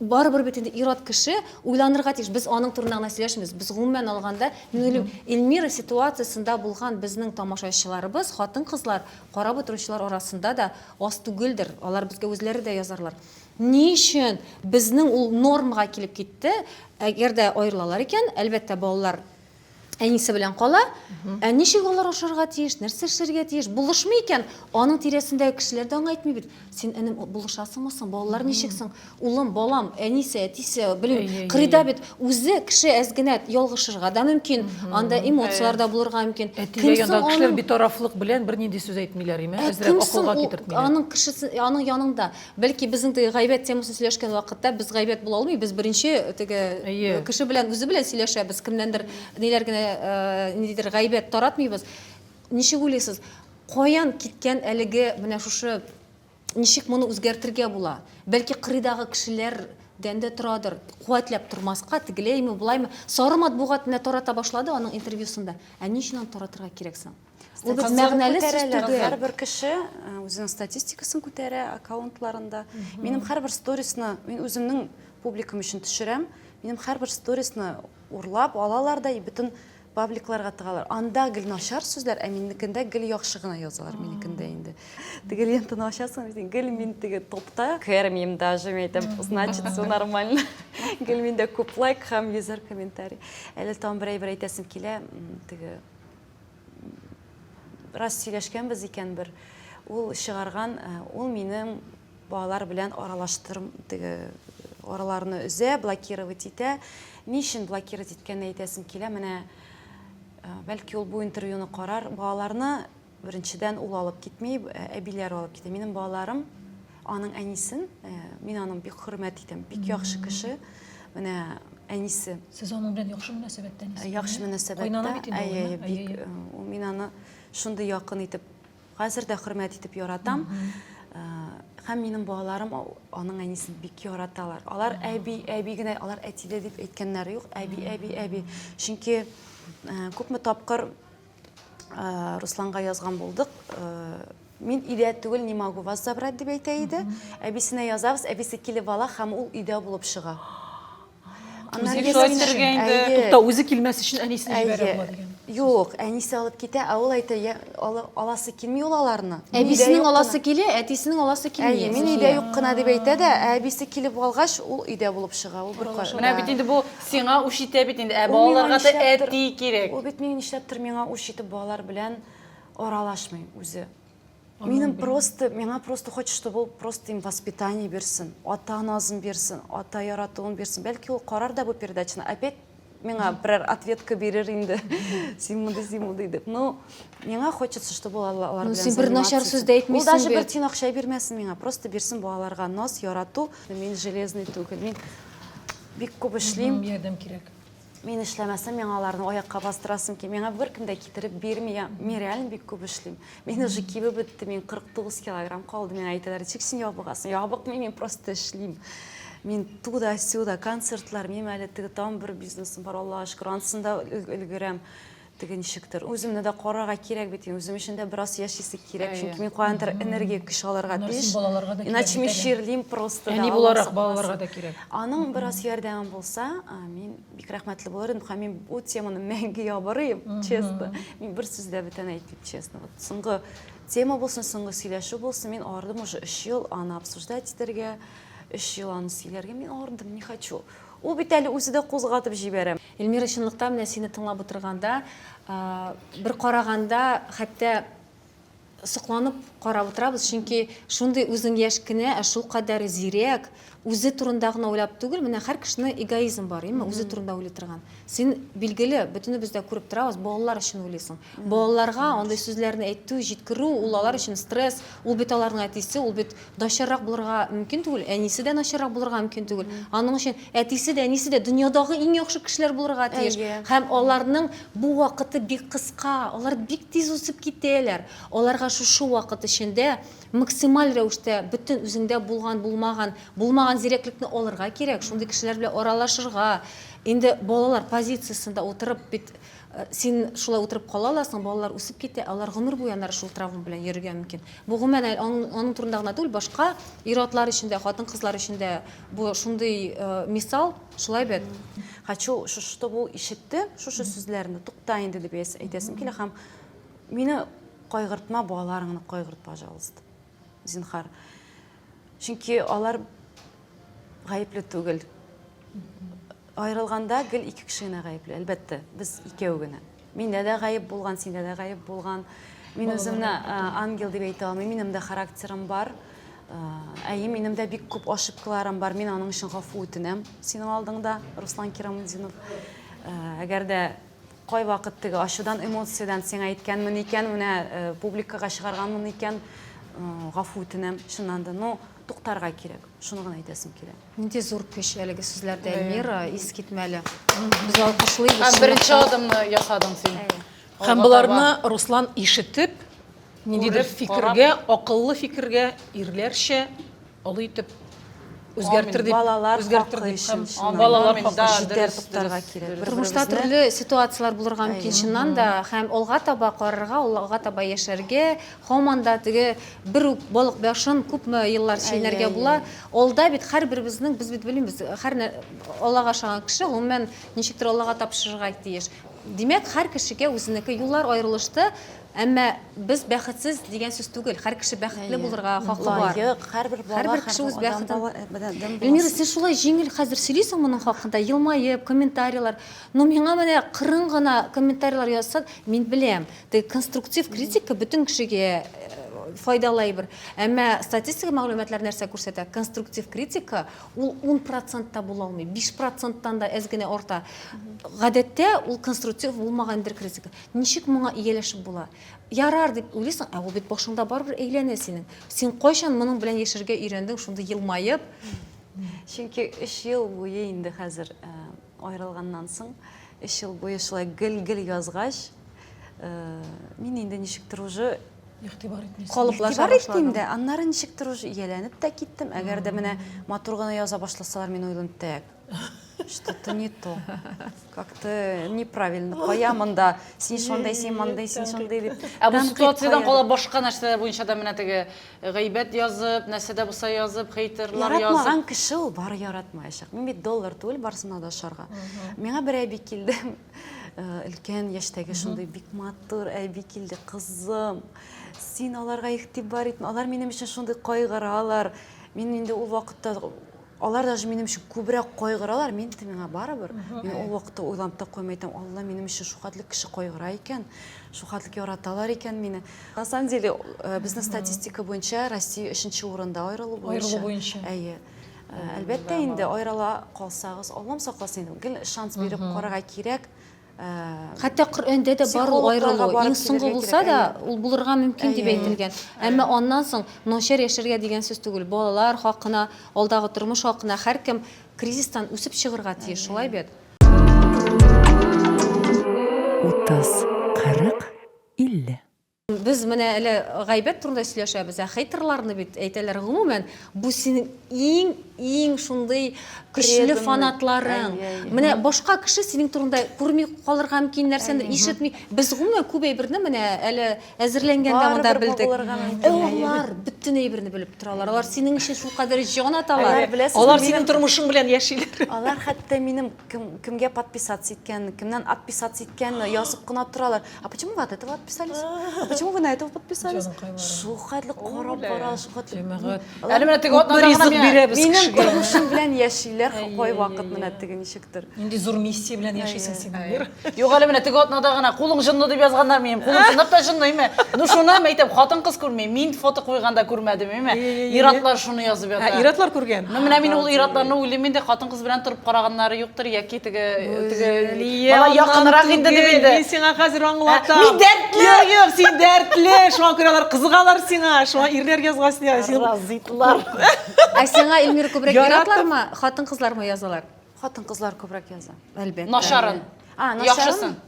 Барыбер бит инде ир-ат кеше уйланырга тиеш. Без аның турында гына сөйләшмибез. Без гомумән алганда, мин уйлыйм, Эльмира ситуациясендә булган безнең тамашачыларыбыз, хатын-кызлар, карап утыручылар арасында да аз түгелдер. Алар безгә үзләре дә язарлар. Ни өчен безнең ул нормага килеп китте? Әгәр дә аерылалар икән, әлбәттә, балалар әнисе белән кала. Ә ничек алар ашарга тиеш, нәрсә эшләргә тиеш? Булышмый икән, аның тирәсендәге кешеләр дә аңа әйтми бит. Син энем булышасыңмы соң? Балалар ничек соң? Улым, балам, әнисе, әтисе, белмим, кырыйда бит. Үзе кеше әз генә ялгышырга да мөмкин, анда эмоцияләр дә булырга мөмкин. Кем соң аның битарафлык белән бернинди сүз әйтмиләр име? Әзрәк акылга китертмиләр. Аның кешесе, аның янында Бәлки безнең теге гайбәт темасын сөйләшкән вакытта без гайбәт була алмый, без беренче теге Әйе. кеше белән үзе белән сөйләшәбез, кемнәндер ниләр генә э, ниндидер гайбәт таратмыйбыз. Ничек уйлыйсыз, каян киткән әлеге менә шушы ничек моны үзгәртергә була? Бәлки кырыйдагы кешеләрдән дә торадыр. Куәтләп тормаска, тегеләйме, болаймы? Сары матбугат менә тарата башлады аның интервьюсында. Ә ни өчен аны таратырга кирәк соң? Ул бит мәгънәле сүз түгел. Һәрбер кеше үзенең статистикасын күтәрә аккаунтларында. Минем һәрбер сторисны мин үземнең публикам өчен төшерәм. Минем һәрбер сторисны урлап алалар да и бөтен пабликларга тыгалар. Анда гел начар сүзләр, ә минекендә гел яхшы гына язалар минекендә инде. Теге лентаны ачасың, дисең, гел мин теге топта кермим даже, мин әйтәм, значит, все нормально. Гел миндә күп лайк һәм йөзәр комментарий. Әле тагын бер әйбер әйтәсем килә, теге Бераз сөйләшкәнбез икән бер. Ул чыгарган, э, ул минем балалар белән аралаштырм, теге араларны өзә, блокировать итә. Ни өчен блокировать иткәнен әйтәсем килә. Менә э, бәлки ул бу интервьюны карар. Балаларны беренчедән ул алып китми, э, әбиләр алып китә. Минем балаларым Аның әнисен, э, мин аның бик хөрмәт итәм, бик яхшы кеше. Менә әнисе. Сез аның белән яхшы мөнәсәбәттә нисез? Яхшы мөнәсәбәттә. Әйе, бик. Э, мин аны шундый якын итеп, хәзер дә хөрмәт итеп яратам. Э, һәм минем балаларым аның әнисен бик яраталар. Алар әби, әби генә, алар әтиле дип әйткәннәре юк. Әби, әби, әби. Чөнки э, күпме тапкыр ә, Русланга язган булдык. Ә, мин өйдә түгел, не могу вас забрать дип әйтә иде. Әбисенә язабыз, әбисе килеп ала һәм ул өйдә булып чыга. Аннан Үзе шулай ясәмеш- төшергән инде. Әйе. Тукта, үзе килмәс өчен әнисен җибәрә Әйе. була дигән. Юк, әнисе алып китә, ә ул әйтә, «Я- ала- аласы килми ул аларны. Мин өйдә Әбисенең юк аласы кына». килә, әтисенең аласы килми. Әйе, мин өйдә юк кына дип әйтә дә, ә әбисе килеп алгач, ул өйдә булып чыга. Ул бер Менә бит инде бу Сиңа үч итә бит инде, ә балаларга да әти кирәк. Ул бит миңа нишләптер миңа үч итеп балалар белән аралашмый үзе. Минем просто, миңа просто хочет, чтобы ул просто им воспитание бирсен, ата назын бирсен, ата яратуын бирсен. Бәлки ул карар да бу передачаны, опять миңа берәр ответка бирер инде. Син мондый, син мондый дип. Ну, миңа хочется, чтобы ул алар белән. Ну, син бер начар сүз дә әйтмисең бит. Ул даже бер тин акча бирмәсен миңа, просто бирсен балаларга наз, ярату. Мин железный түгел, мин Бик күп эшлим. Ярдәм кирәк. Мин эшләмәсәм, миңа аларны аякка бастырасым килми. Миңа беркем дә китереп бирми. Мин реально бик күп эшлим. Мин уже кибеп бетте, мин 49 килограмм калды. Миңа әйтәләр, ничек син ябыгасың? Ябыкмыйм, мин просто эшлим. Мин туда-сюда, концертлар, минем әле теге там бер бизнесым бар, Аллага шөкер, анысында өлгерәм. Теге ничектер, үземне дә карарга кирәк бит, үзем өчен дә бераз яшисе кирәк, чөнки мин каяндыр энергия, көч алырга тиеш. Иначе мин чирлим просто. Әни буларак балаларга да кирәк. Аның бераз ярдәме булса, мин бик рәхмәтле булыр идем, һәм мин бу теманы мәңге ябырыйм, честно. Мин бер сүз дә бүтән әйтмим, честно. Вот соңгы тема булсын, соңгы сөйләшү булсын, мин ардым уже өч ел аны обсуждать итәргә, өч ел аны сөйләргә мин ардым, не хочу. Ул бит әле үзе дә кузгатып җибәрә. Эльмира чынлыкта менә сине тыңлап утырганда бер караганда хәтта сокланып карап утырабыз, чөнки шундый үзең яшь кенә, ә шул кадәр зирәк, үзе турында гына уйлап түгел, менә һәр кешене эгоизм бар, имма үзе турында уйлый торган. Син билгеле, бөтенебез дә күреп торабыз, балалар өчен уйлыйсың. Балаларга андый сүзләрне әйтү, җиткерү, ул алар өчен стресс, ул бит аларның әтисе, ул бит Начаррак булырга мөмкин түгел, әнисе дә начаррак булырга мөмкин түгел. Аның өчен әтисе дә, әнисе дә дөньядагы иң яхшы кешеләр булырга тиеш. Әйе. Һәм аларның бу вакыты бик кыска, алар бик тиз үсеп китәләр. Аларга шушы вакыт эчендә максималь рәвештә бөтен үзеңдә булган, булмаган, булмаган зирәклекне алырга кирәк, шундый кешеләр белән аралашырга. Инде балалар позициясендә утырып бит Син шулай утырып кала аласың, балалар үсеп китә, алар гомер буе анар шул травма белән йөрергә мөмкин. Бу гомумән аның турында гына түгел, башка ир-атлар өчен дә, хатын-кызлар өчен дә бу шундый мисал, шулай бит? Хочу, чтобы ул ишетте шушы сүзләрне, тукта инде дип әйтәсем килә һәм мине кайгыртма, балаларыңны кайгырт, пожалуйста. зинһар. Чөнки алар гаепле түгел. Аерылганда гел ике кеше генә гаепле, әлбәттә, без икәү генә. Миндә дә гаеп булган, синдә дә гаеп булган. Мин үземне ангел дип әйтә алмыйм, минем дә характерым бар. Әйе, минем дә бик күп ошибкаларым бар. Мин аның өчен гафу үтенәм синең алдыңда, Руслан Кирамудинов. Әгәр дә Кайвакыт теге ачудан, эмоциядән сиңа әйткәнмен икән, менә э, публикага чыгарганмын икән, э, гафу үтенәм, чыннан да. Но туктарга кирәк. Шуны гына әйтәсем килә. Нинди зур көч әлеге сүзләрдә Эльмира, искитмәле. Без алкышлыйбыз. Һәм беренче адымны ясадың син. Һәм боларны Руслан ишетеп, ниндидер фикергә, акыллы фикергә, ирләрчә Олы итеп үзгәртер дип, балалар үзгәртер дип һәм балалар хакы җитәр туктарга кирәк. Тормышта төрле ситуацияләр булырга мөмкин чыннан да, һәм алга таба карарга, алга таба яшәргә, һаман да теге бер үк балык башын күпме еллар чәйнәргә була. Алда бит һәрберебезнең без бит белмибез, һәр Аллага ышанган кеше гомумән ничектер Аллага тапшырырга тиеш. Димәк, һәр кешегә үзенеке юллар аерылышты, Әмма без бәхетсез дигән сүз түгел. Хәр кеше бәхетле булырга хакы бар. Лаек, һәрбер бала, һәрбер кеше үз бәхетен. Эльмира, син шулай җиңел хәзер сөйлисең моның хакында, елмаеп, комментарийлар. Но миңа менә кырын гына комментарийлар язса, мин беләм, теге конструктив критика бөтен кешегә файдалы әйбер. Әмма статистика мәгълүматлар нәрсә күрсәтә? Конструктив критика ул 10% та була алмый, 5%-тан да әз генә арта. Гадәттә ул конструктив булмаган бер критика. Ничек моңа ияләшеп була? Ярар дип уйлыйсың, ә ул бит башыңда барыбер әйләнә синең. Син кайчан моның белән яшәргә өйрәндең, шундый елмаеп? Чөнки өч ел буе инде хәзер э, аерылганнан соң, өч ел буе шулай гел-гел язгач, э, мин инде ничектер уже Игътибар итмисең. Калыплаша Игътибар итмим башладың. дә, аннары ничектер уже ияләнеп тә киттем. Әгәр дә менә матур гына яза башласалар, мин уйлыйм, тәк, Что-то не то. Как-то неправильно. Кая монда? Син шундый, син мондый, син шундый дип. Ә бу ситуациядән кала башка нәрсәләр буенча да менә теге гайбәт язып, нәрсә дә булса язып, хейтерлар язып. Яратмаган кеше ул бары яратмаячак. Мин бит доллар түгел барсына да шарга. Миңа бер әби килде. Өлкән яшьтәге шундый бик матур әби килде, кызым. Син аларга игътибар итмә. Алар минем өчен шундый кайгыралар. Мин инде ул вакытта Алар даже минем өчен күбрәк кайгыралар, мин дә миңа барыбер. Мин ул вакытта уйланып та куймый идем, Алла минем өчен шухатлы кеше кайгыра икән, шухатлы яраталар икән мине. На самом деле, э, безнең статистика буенча Россия өченче урында аерылу буенча. Аерылу буенча. Әйе. Әлбәттә инде аерыла калсагыз, Аллам сакласын инде. Гел шанс биреп карарга кирәк. Хәтта Коръәндә дә бар ул аерылу. Иң соңгы булса да, ул булырга мөмкин дип әйтелгән. Әмма аннан соң начар яшәргә дигән сүз түгел. Балалар хакына, алдагы тормыш хакына һәркем кризистан үсеп чыгырга тиеш, шулай бит? Утыз, кырык, илле. Без менә әле гайбәт турында сөйләшәбез, ә хейтерларны бит әйтәләр. Гомумән, бу синең иң иң шундый көчле фанатларың. Менә башка кеше синең турында күрми калырга мөмкин нәрсәдер, ишетми. Без гомумән күп әйберне менә әле әзерләнгәндә монда белдек. Алар бөтен әйберне белеп торалар. Алар синең өчен шулкадәр җан аталар. Алар синең тормышың белән яшиләр. Алар хәтта минем кемгә подписаться иткәнне, кемнән отписаться иткәнне язып кына торалар. А почему вы от этого отписались? А почему вы на этого подписались? Шул хәтле карап бара, шул хәтле. Җәмәгать. Әле менә теге атна ризык бирәбез кешегә. Минем тормышым белән яшиләр кайвакыт менә теге ничектер. Нинди зур миссия белән яшисең син, Амир? Юк, әле менә теге атнада гына кулың җынлы дип язганнар минем. Кулым чынлап та җынлымы? Ну шуны әйтәм, хатын-кыз күрми. Мин фото куйганда күрмәдем, әйме? Иратлар шуны язып ята. Иратлар күргән. Ну менә мин ул иратларны уйлыйм инде, хатын кыз белән торып караганнары юктыр яки теге теге бала якынрак инде дип инде мин сиңа хәзер аңлатам мин дәртле юк юк син дәртле шуңа күрә алар кызыгалар сиңа шуңа ирләр язган сиңа син разыйтлар ә сиңа эльмира күбрәк иратлармы хатын кызлармы язалар хатын кызлар күбрәк яза әлбәттә начарын яхшысын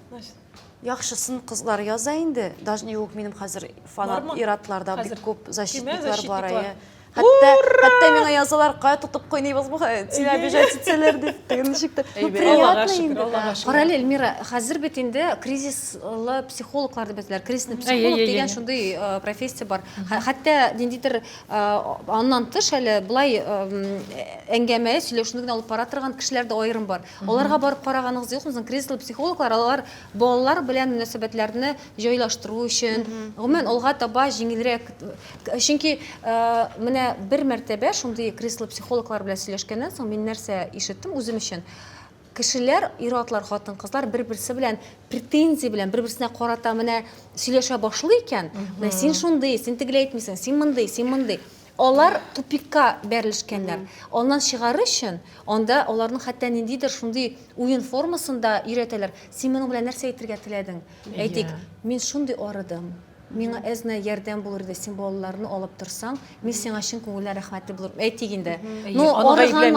Яхшысын кызлар яза инде. Даже не юк минем хәзер фанат иратларда бик күп защитниклар бар. Хәтта хәтта миңа язалар, кая тотып куйныйбыз бу тиле обижать итсәләр дип. Теге ничек тә. Ну приятно инде. Карале, Эльмира, хәзер бит инде кризислы психологлар дип әйтәләр. Кризисный психолог дигән шундый профессия бар. Хәтта ниндидер аннан тыш әле болай әңгәмә сөйләшүне генә алып бара торган кешеләр дә аерым бар. Аларга барып караганыгыз юкмы соң? Кресло психологлар алар балалар белән мөнәсәбәтләрне җайлаштыру өчен, гомумән алга таба җиңелрәк. Чөнки менә бер мәртәбә шундый кресло психологлар белән сөйләшкәннән соң мин нәрсә ишеттем үзем өчен? Кешеләр, ир-атлар, хатын-кызлар бер-берсе белән претензия белән бер-берсенә карата менә сөйләшә башлый икән, менә син шундый, син тегеләй итмисең, син мондый, син мондый. Алар тупикка бәрелешкәннәр. Аннан чыгарыр өчен, анда аларның хәтта ниндидер шундый уен формасында өйрәтәләр. Син моның белән нәрсә әйтергә теләдең? Әйтик, мин шундый арыдым, миңа әз-нә ярдәм булыр иде, син балаларны алып торсаң, мин сиңа чын күңелдән рәхмәтле булырмын. Әйтик инде. Ну, арыган,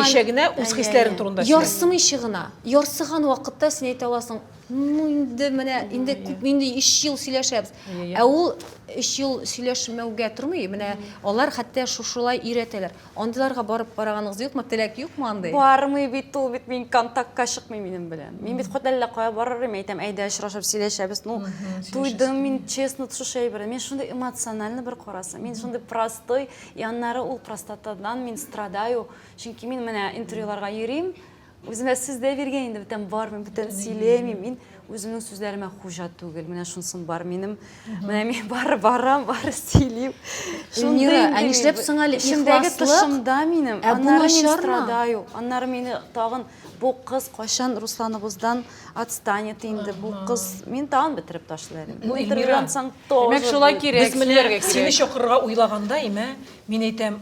ярсымыйчы гына, ярсыган вакытта син әйтә аласың, Ну, инде менә инде күп инде 3 ел сөйләшәбез. Ә ул 3 ел сөйләшмәүгә тормый. Менә алар хәтта шушылай өйрәтәләр. Андыйларга барып караганыгыз юкмы? Теләк юкмы андый? Бармый бит ул бит мин контактка чыкмый минем белән. Мин бит хәтта әллә кая барыр идем, әйтәм, әйдә очрашып сөйләшәбез. Ну, туйдым мин, честно, шушы әйбердән. Мин шундый эмоциональный бер карасаң, мин шундый простой, и аннары ул простатадан мин страдаю. Чөнки мин менә интервьюларга йөрим, Үземә сүз дә биргән инде бүтән бар, мин бүтән сөйләмим, мин үземнең сүзләремә хуҗа түгел. Менә шунсын бар минем. Менә мин бар барам, бар сөйлим. Эльмира, ә нишләп соң әле ихласлык? Тышымда минем. Ә бу начармы? Аннары мине тагын бу кыз кайчан Русланыгыздан отстанет инде? Бу кыз мин тагын бетереп ташлыйм. Бу интервьюдан соң тоже. Димәк, шулай кирәк. Без менә сине чакырырга уйлаганда, имә, мин әйтәм,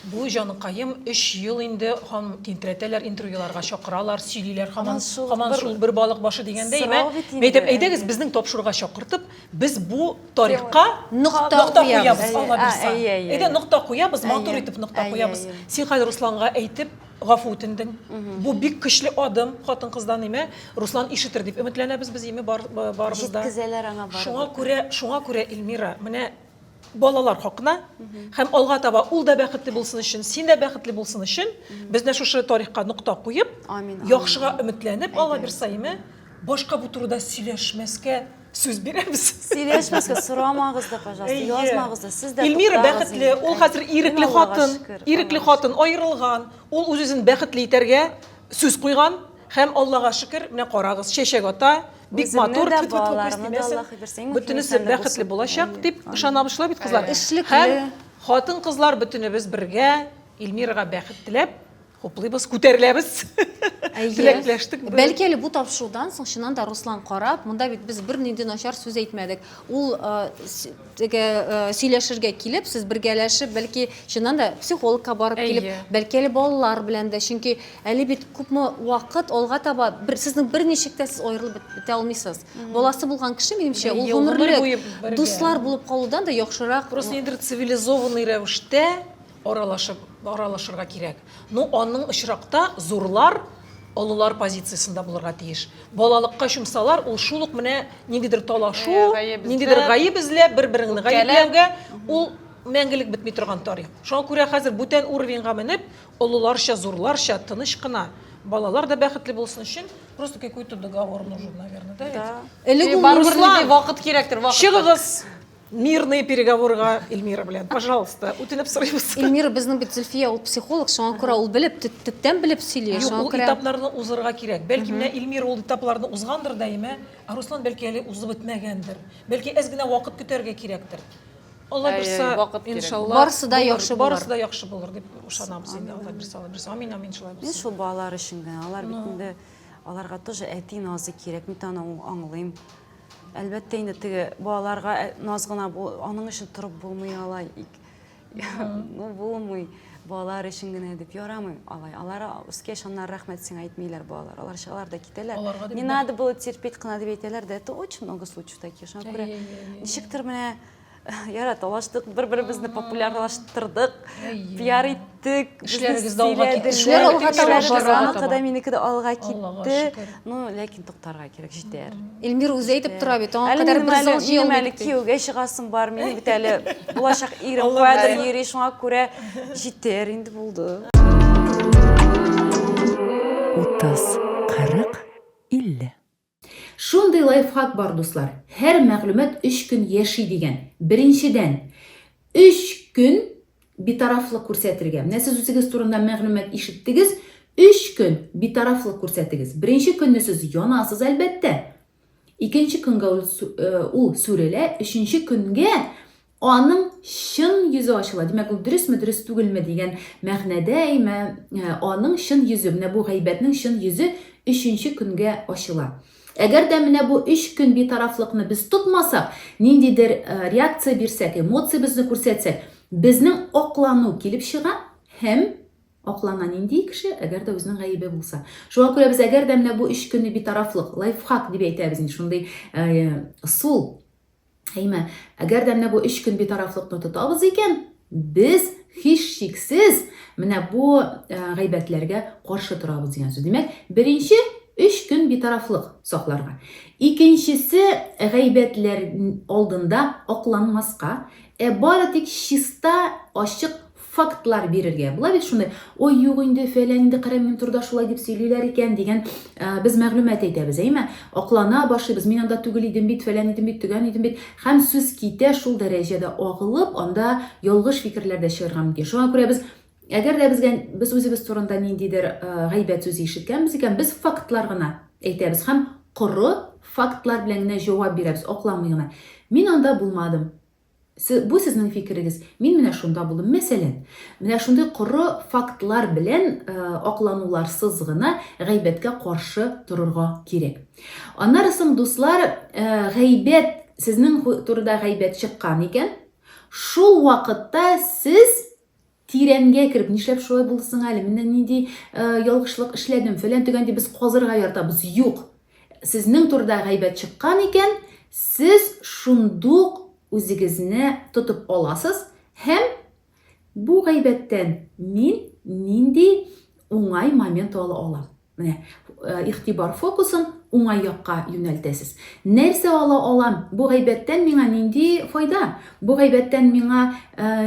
Бу җаныкаем өч ел инде һам тинтерәтәләр, интервьюларга чакыралар, сөйлиләр һаман, һаман шул бер балык башы дигәндәй. Мә, мәйтәм, әйдәгез безнең тапшыруга чакыртып, без бу тарихка нокта куябыз, Алла бирса. Әйдә, нокта куябыз, матур итеп нокта куябыз. Син хәзер Русланга әйтеп, гафу үтендең. Бу бик көчле адым хатын-кыздан, имә, Руслан ишетер дип өметләнәбез без, име, барыбыз да. Җиткезәләр аңа барыбер. Шуңа күрә, шуңа күрә, Илмира, менә балалар хакына һәм алга таба ул да бәхетле булсын өчен, син дә бәхетле булсын өчен без менә шушы тарихка нокта куеп, яхшыга өметләнеп, Алла бирса име, башка бу турыда сөйләшмәскә сүз бирәбез. Сөйләшмәскә сорамагыз да, пожалуйста, язмагыз да. Сез дә Эльмира бәхетле, ул хәзер ирекле хатын, ирекле хатын аерылган, ул үз-үзен бәхетле итәргә сүз куйган һәм Аллага шөкер, менә карагыз, чәчәк ата, бик матур тфу тфу күз тимәсен бөтенесе бәхетле булачак дип ышанабыз шулай бит кызлар эшлекле хатын кызлар бөтенебез бергә Ильмирага бәхет теләп хуплыйбыз күтәреләбез теләкләштек бәлки әле бу тапшырудан соң чыннан да руслан карап монда бит без бернинди начар сүз әйтмәдек ул теге э, сөйләшергә килеп сез бергәләшеп бәлки чыннан да психологка барып килеп бәлки әле балалар белән дә чөнки әле бит күпме вакыт алга таба бер, сезнең берничек тә сез аерылып бетә алмыйсыз баласы булган кеше минемчә ул гомерлек дуслар булып калудан да яхшырак просто нидер цивилизованный рәвештә Аралашып, аралашырга кирәк. Ну, аның очракта зурлар олылар позициясендә булырга тиеш. Балалыкка чумсалар, ул шул ук менә ниндидер талашу, ниндидер гаеп эзләп, бер-береңне гаепләүгә, ул мәңгелек бетми торган тарих. Шуңа күрә хәзер бүтән уровеньга менеп, олыларча, зурларча, тыныч кына, балалар да бәхетле булсын өчен, просто какой-то договор нужен, наверное, да ведь? Элек ул Руслан, вакыт кирәктер, вакыт. Чыгыгыз! Мирный переговорга Эльмира белән. Пожалуйста, үтенеп сорыйбыз. Эльмира безнең бит Зөлфия ул психолог, шуңа күрә ул белеп, төптән белеп сөйли. Юк, ул этапларны узырга кирәк. Бәлки менә Эльмира ул этапларны узгандыр да, әйме? Ә Руслан бәлки әле узып бетмәгәндер. Бәлки әз генә вакыт көтәргә кирәктер. Алла бирсә, иншалла. Барысы да яхшы булыр. Барысы да яхшы булыр дип ышанабыз инде. Алла бирсә, Алла бирсә. Амин, амин, шулай булсын. Мин шул балалар өчен генә, алар бит инде аларга тоже әти назы кирәк, мин аны аңлыйм. Әлбәттә инде теге балаларга э, наз гына аның өчен торып булмый алай. Ну булмый. Балалар өчен генә дип ярамый алай. Алар үскәч аннар рәхмәт сиңа әйтмиләр балалар. Алар чыгалар да китәләр. Не надо было терпеть кына дип әйтәләр дә. Это очень много случаев таких. Шуңа күрә ничектер менә Яра талаштык, бер-беребезне популярлаштырдык, пиар иттек. Эшләрегез дә алга китте. Эшләр алга таба бара. Аныкы да минеке дә алга китте. Ну, ләкин туктарга кирәк, җитәр. Эльмир үзе әйтеп тора бит, аңа кадәр бер зал җыелмый. Минем әле кияүгә чыгасым бар, минем бит әле булачак ирем кадәр йөри, шуңа күрә җитәр инде булды. 30, 40, 50. Шундый лайфхак бар, дуслар. Һәр мәгълүмат 3 көн яши дигән. Беренчедән, 3 көн битарафлык күрсәтергә. Менә сез үзегез турында мәгълүмат ишеттегез, 3 көн битарафлык күрсәтегез. Беренче көнне сез янасыз, әлбәттә. Икенче көнгә ул сүрелә, өченче көнгә аның чын йөзе ачыла. Димәк, ул дөресме, дөрес түгелме дигән мәгънәдә, әйме, э, аның чын йөзе, менә бу гайбәтнең чын йөзе өченче көнгә ачыла. Әгәр дә менә бу өч көн битарафлыкны без тотмасак, ниндидер э, реакция бирсәк, эмоциябезне күрсәтсәк, безнең аклану килеп чыга һәм аклана нинди кеше, әгәр дә үзенең гаебе булса. Шуңа күрә без әгәр дә менә бу өч көнне битарафлык, лайфхак дип әйтәбез, шундый э, сул Әйме, әгәр дә менә бу өч көн битарафлыкны тотабыз икән, без һич шиксез менә бу э, гайбәтләргә каршы торабыз дигән сүз. Димәк, беренче өч көн битарафлык сакларга. Икенчесе гайбәтләр алдында акланмаска, ә бары тик чиста, ачык фактлар бирергә була бит шуны ой юк инде фәлән инде кырым минтурда шулай дип сөйлиләр икән дигән ә, без мәгълүмат әйтәбез әйме аклана башлыйбыз мин анда түгел идем бит фәлән идем бит төгән идем бит һәм сүз китә шул дәрәҗәдә агылып анда ялгыш фикерләр дә чыгарга мөмкин шуңа күрә без әгәр дә безгә без үзебез турында ниндидер ә, гайбәт сүзе ишеткәнбез икән без фактлар гына әйтәбез һәм коры фактлар белән генә җавап бирәбез акламый гына мин анда булмадым Бу сезнең фикерегез. Мин менә шунда булдым. Мәсәлән, менә шундый коры фактлар белән э, аклануларсыз гына гайбәткә каршы торырга кирәк. Аннары соң, дуслар, э, гайбәт, сезнең турыда гайбәт чыккан икән, шул вакытта сез Тирәнгә кереп, нишләп шулай булды соң әле? Менә нинди ялгышлык эшләдем, фәлән төгән дип без казырга яртабыз. Юк. Сезнең турыда гайбәт чыккан икән, сез шундук үзегезне тотып аласыз һәм бу гайбәттән мин нинди уңай момент ала алам? Менә игътибар фокусын уңай якка юнәлтәсез. Нәрсә ала алам? Бу гайбәттән миңа нинди файда? Бу гайбәттән миңа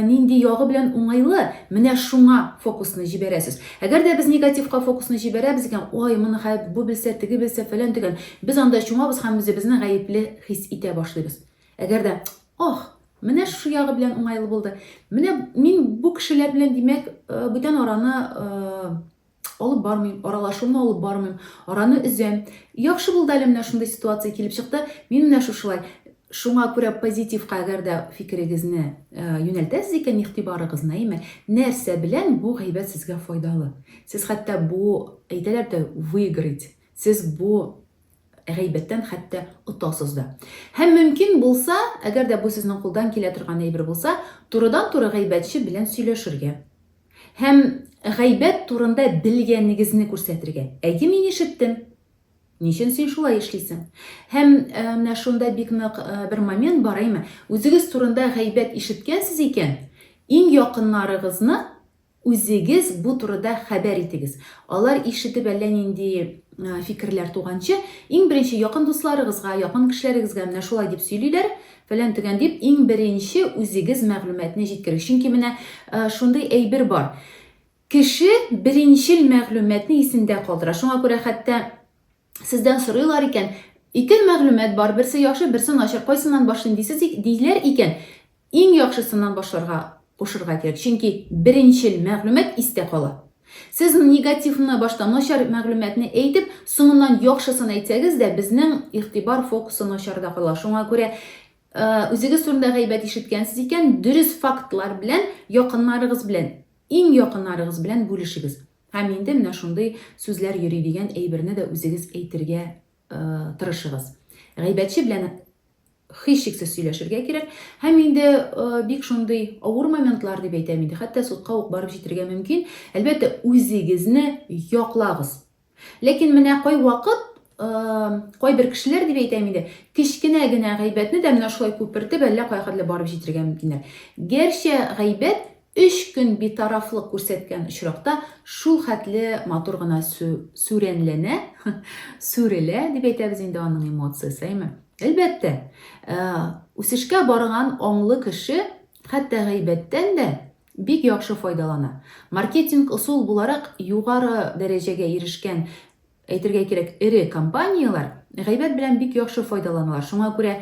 нинди ягы белән уңайлы? Менә шуңа фокусны җибәрәсез. Әгәр дә без негативка фокусны җибәрәбез икән, ой, моны хәзер бу белсә, теге белсә, фәлән дигән, без анда чумабыз һәм үзебезне гаепле хис итә башлыйбыз. Әгәр дә, ох, менә шушы ягы белән уңайлы булды. Менә мин бу кешеләр белән, димәк, бүтән араны алып бармыйм, аралашуны алып бармыйм, араны өзәм. Яхшы булды әле менә шундый ситуация килеп чыкты. Мин менә шушылай. Шуңа күрә позитивка әгәр дә фикерегезне э, юнәлтәсез икән игътибарыгызны, әйме, нәрсә белән бу гайбәт сезгә файдалы? Сез хәтта бу әйтәләр дә выиграть. Сез бу гайбәттән хәтта отасыз да. Һәм мөмкин булса, әгәр дә бу сезнең кулдан килә торган әйбер булса, турыдан-туры гайбәтче белән сөйләшергә. Һәм гайбәт турында белгәнегезне күрсәтергә. Әйе, мин ишеттем. Ничен син шулай эшлисең? Һәм менә шунда бик нык бер момент бар, әйме? Үзегез турында гайбәт ишеткәнсез икән, иң якыннарыгызны үзегез бу турыда хәбәр итегез. Алар ишетеп әллә нинди фикерләр туганчы, иң беренче якын дусларыгызга, якын кешеләрегезгә менә шулай дип сөйлиләр, Фәлән-төгән дип, иң беренче үзегез мәгълүматны җиткерик. Чөнки менә шундый әйбер бар. Кеше беренчел мәгълүматны исендә калдыра. Шуңа күрә хәтта сездән сорыйлар икән, ике мәгълүмат бар, берсе яхшы, берсе начар, кайсыннан башлыйм дисез, диләр икән, иң яхшысыннан башларга Кушырга кирәк, чөнки беренчел мәгълүмат истә кала. Сез негативны башта, начар мәгълүматны әйтеп, соңыннан яхшысын әйтсәгез дә, безнең игътибар фокусы начарда кала. Шуңа күрә үзегез турында гайбәт ишеткәнсез икән, дөрес фактлар белән, якыннарыгыз белән, иң якыннарыгыз белән бүлешегез. Һәм инде менә шундый сүзләр йөри дигән әйберне дә үзегез әйтергә тырышыгыз. Гайбәтче белән һичшиксез сөйләшергә кирәк. Һәм инде бик шундый авыр моментлар дип әйтәм инде, хәтта судка ук барып җитәргә мөмкин. Әлбәттә, үзегезне яклагыз. Ләкин менә кайвакыт кайбер кешеләр дип әйтәм инде, кечкенә генә гайбәтне дә менә шулай күпертеп, әллә кая хәтле барып җитәргә мөмкиннәр. Гәрчә гайбәт Өч көн битарафлык күрсәткән очракта шул хәтле матур гына сүрәнләнә, сүрелә, дип әйтәбез инде аның эмоциясе, әйме? Әлбәттә, э, үсешкә барган аңлы кеше хәтта гайбәттән дә бик яхшы файдалана. Маркетинг ысул буларак югары дәрәҗәгә ирешкән әйтергә кирәк, эре компанияләр гайбәт белән бик яхшы файдаланалар. Шуңа күрә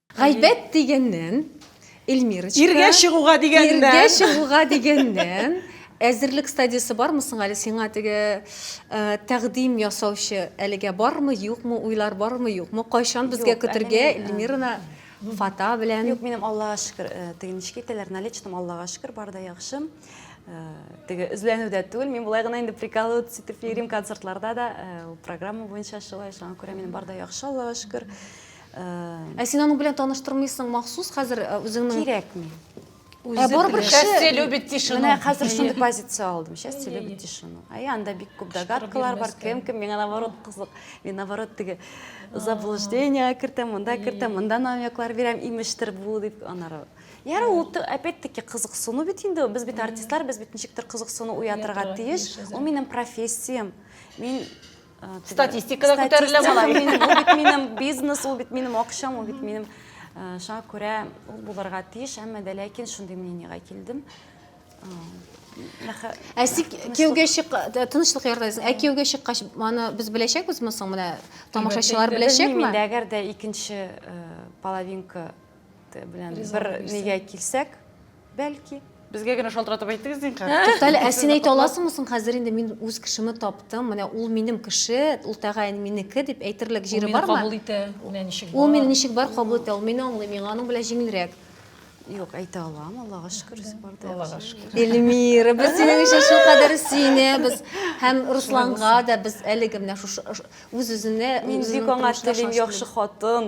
Гайбәт дигәннән, Эльмирочка. Иргә чыгуга дигәннән. Иргә чыгуга дигәннән. Әзерлек стадиясе бармы соң әле сиңа теге э, тәкъдим ясаучы әлегә бармы, юкмы, уйлар бармы, юкмы? Кайчан безгә Юк, көтергә әле мин, э, Эльмираны фата белән? Юк, минем Аллага шөкер, э, теге ничек әйтәләр, наличным Аллага шөкер, бар да яхшы. Э, Теге өзләнү дә түгел, мин болай гына инде приколы итеп йөрим концертларда да, э, ул программа буенча шулай, шуңа күрә минем бар да яхшы, Аллага шөкер. Ә син аның белән таныштырмыйсың махсус хәзер э, үзеңнең Кирәкми. Ә барыбер кеше- Счастье любит тишину. Менә хәзер шундый позиция алдым. Счастье любит тишину. Әй, анда бик күп догадкалар бар. Кем кем миңа наоборот кызык. Мин наоборот теге заблуждение кертәм, монда кертәм, монда намеклар бирәм, имештер бу дип анары. Яры ул ты- опять-таки кызыксыну бит инде. ул. Без бит артистлар, без бит ничектер кызыксыну уятырга Уятырга тиеш. тиеш, Ул минем профессиям. Мин Статистикада күтәрелә малай. Ул бит минем бизнес, ул бит минем акчам, ул бит минем шуңа күрә ул булырга тиеш, әмма дә ләкин шундый мнениегә килдем. Ә син кияүгә чык, тынычлык ярдайсың. Ә кияүгә чыккач, аны без беләчәкбезме соң менә тамашачылар беләчәкме? Инде әгәр дә икенче половинка белән бер нигә килсәк, Бәлки. Безгә генә шалтыратып әйтегез, зинһар. Тукта әле, ә син әйтә аласыңмы соң хәзер инде мин үз кешемне таптым, менә ул минем кеше, ул тәгаен минеке дип әйтерлек җире бармы? Ул мине кабул итә, менә ничек бар. Ул мине ничек бар кабул итә, ул мине аңлый, миңа аның белән җиңелрәк. Юк, әйтә алам, Аллага шөкер, үзе бар да. Аллага шөкер. Эльмира, без синең өчен шул кадәр сөенәбез. Һәм Русланга да без әлеге менә шушы үз-үзенә, үз-үзенең тормышына шатланабыз. Мин бик аңа телим, яхшы хатын.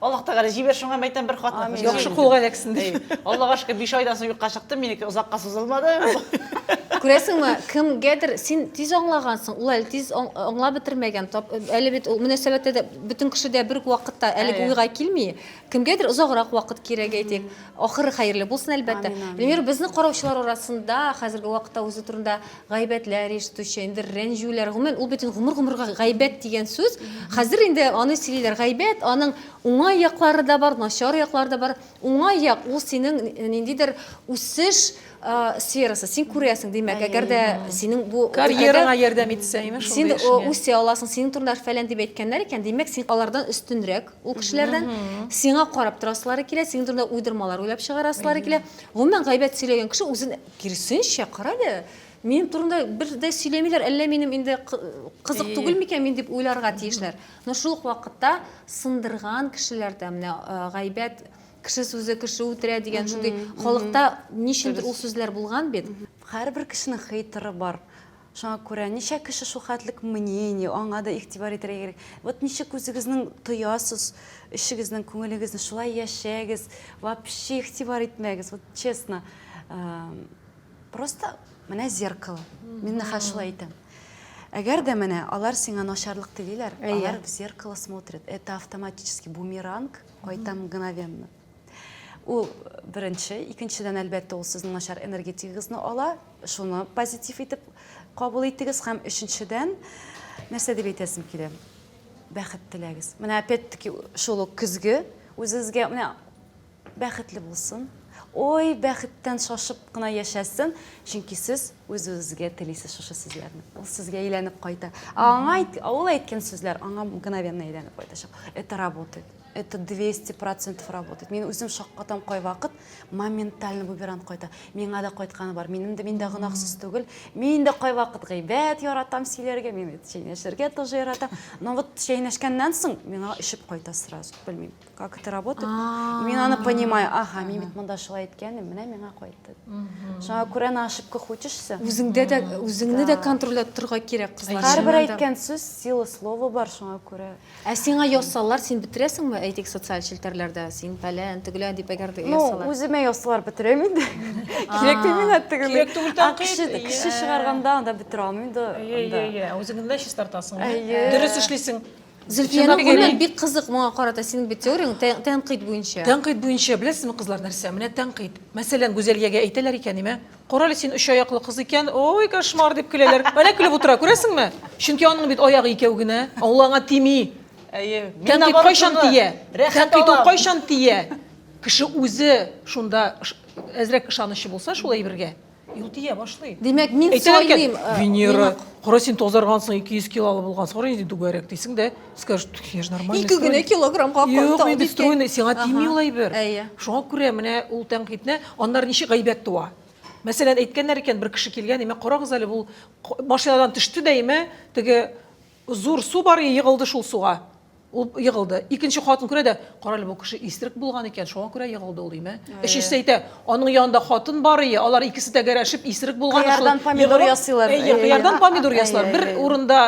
Аллаһ Тәгалә җибәр шуңа мәйтәм бер хатны. Амин. Яхшы кулга эләксен ди. Аллага шөкер, биш айдан соң юкка чыкты, минеке озакка сузылмады. Күрәсеңме, кемгәдер син тиз аңлагансың, ул әле тиз аң- аңлап бетермәгән. Тап- Әле бит ул мөнәсәбәттә дә бөтен кеше дә бер үк вакытта әлеге Әйе. уйга килми. Кемгәдер озаграк вакыт кирәк әйтик. Ахыры хәерле булсын, әлбәттә. Амин, амин. Эльмира, безне караучылар арасында хәзерге вакытта үзе турында гайбәтләр ишетүче, инде рәнҗүләр, гомумән, ул бит инде гомер-гомергә гайбәт дигән сүз. Хәзер инде аны сөйлиләр, гайбәт, аның уңай яклары да бар, начар яклары да бар. Уңай як ул синең ниндидер үсеш сферасы, син күрәсең, димәк, әгәр дә синең бу карьераңа ярдәм итсә, имеш, син үсә аласың, синең турында фәлән дип әйткәннәр икән, димәк, син алардан өстенрәк ул кешеләрдән, сиңа карап торасылары килә, синең турында уйдырмалар уйлап чыгарасылары килә. Гомумән, гайбәт сөйләгән кеше үзен Киресенчә, карале, минем турында бер дә сөйләмиләр, әллә минем инде кызык түгел микән мин дип уйларга тиешләр. Но шул ук вакытта сындырган кешеләр дә менә гайбәт, кеше сүзе кеше үтерә дигән шундый халыкта ничендер ул сүзләр булган бит. Һәрбер кешенең хейтыры бар. Шуңа күрә ничә кеше шулхәтлек мнение, аңа да игътибар итәргә кирәк. Вот ничек үзегезнең тоясыз эшегезнең күңелегезне, шулай яшәгез, вообще игътибар итмәгез, вот честно. Просто менә зеркало. Мин нәхәл шулай әйтәм. Әгәр дә менә алар сиңа начарлык телиләр, алар в зеркало смотрят. Это автоматически бумеранг, кайта мгновенно. Ул беренче, икенчедән, әлбәттә, ул сезнең начар энергетикагызны ала, шуны позитив итеп кабул итегез һәм өченчедән, нәрсә дип әйтәсем килә? Бәхет теләгез. Менә опять-таки шул ук көзге үзегезгә менә бәхетле булсын. Ой, бәхеттән шашып кына яшәсен, чөнки сез үзегезгә телисез шушы сүзләрне. Ул сезгә әйләнеп кайта. Аңа ул әйткән сүзләр аңа мгновенно әйләнеп кайтачак. Это работает. это 200 процентов работает. Мин үзем шаккатам кайвакыт моментально буберан кайта. Миңа да кайтканы бар. Минем дә мин дә гынахсыз түгел. Мин дә кайвакыт гыйбәт яратам сөйләргә, мин бит чәйнәшергә тоже яратам. Но вот чәйнәшкәннән соң миңа ишеп кайта сразу. Белмим, как это работает. Мин аны понимаю. Ага, мин бит монда шулай иткәнем, менә миңа кайтты. Шуңа күрә на ошибках учишься. Үзеңдә дә үзеңне дә контрольләп торга кирәк кызлар. Һәрбер әйткән сүз сила слова бар шуңа күрә. Ә сиңа язсалар, син бетерәсеңме? Әйтик, социаль челтәрләрдә син фәлән, төгелән дип әгәр дә язсалар. Ну, үземә язсалар бетерәм инде. Кирәк түгел миңа төгелән. Кирәк түгел тәнкыйть. Кеше чыгарганда анда бетерә алмыйм да. Әйе, үзең генә чистартасың. Дөрес эшлисең. Зөлфиянең күңеле бик кызык моңа карата. Синең бит теорияң тәнкыйть буенча. Тәнкыйть буенча, беләсезме, кызлар, нәрсә? Менә тәнкыйть. Мәсәлән, Гүзәлиягә әйтәләр икән, нимә? Карале, син өч аяклы кыз икән, ой, кошмар дип көләләр. Менә көлеп утыра, күрәсеңме? Чөнки аның бит аягы икәү генә, ул аңа тими. Әйе. Тәнкыйть кайчан тия? Тәнкыйть ул кайчан тия? Кеше үзе шунда әзрәк ышанычы булса шул әйбергә, ул тия башлый. Димәк, мин сайлыйм. Венера, кара син тазаргансың, 200 килолы булгансың, кара нинди түгәрәк дисең дә. скажет я же нормально ике генә килограммга юк инде стройный сиңа тими ул әйбер шуңа күрә менә ул тәнкыйтьне аннары ничек гайбәт туа мәсәлән әйткәннәр икән бер кеше килгән имә карагыз әле ул машинадан төште дә имә теге зур су бар егылды шул суга ул егылды икенче хатын күрә дә кара әле бу кеше исерек булган икән шуңа күрә егылды ул имә өчесе әйтә аның янында хатын бар ие алар икесе тәгәрәшеп исерек булган кыярдан помидор ясыйлар кыярдан помидор ясыйлар бер урында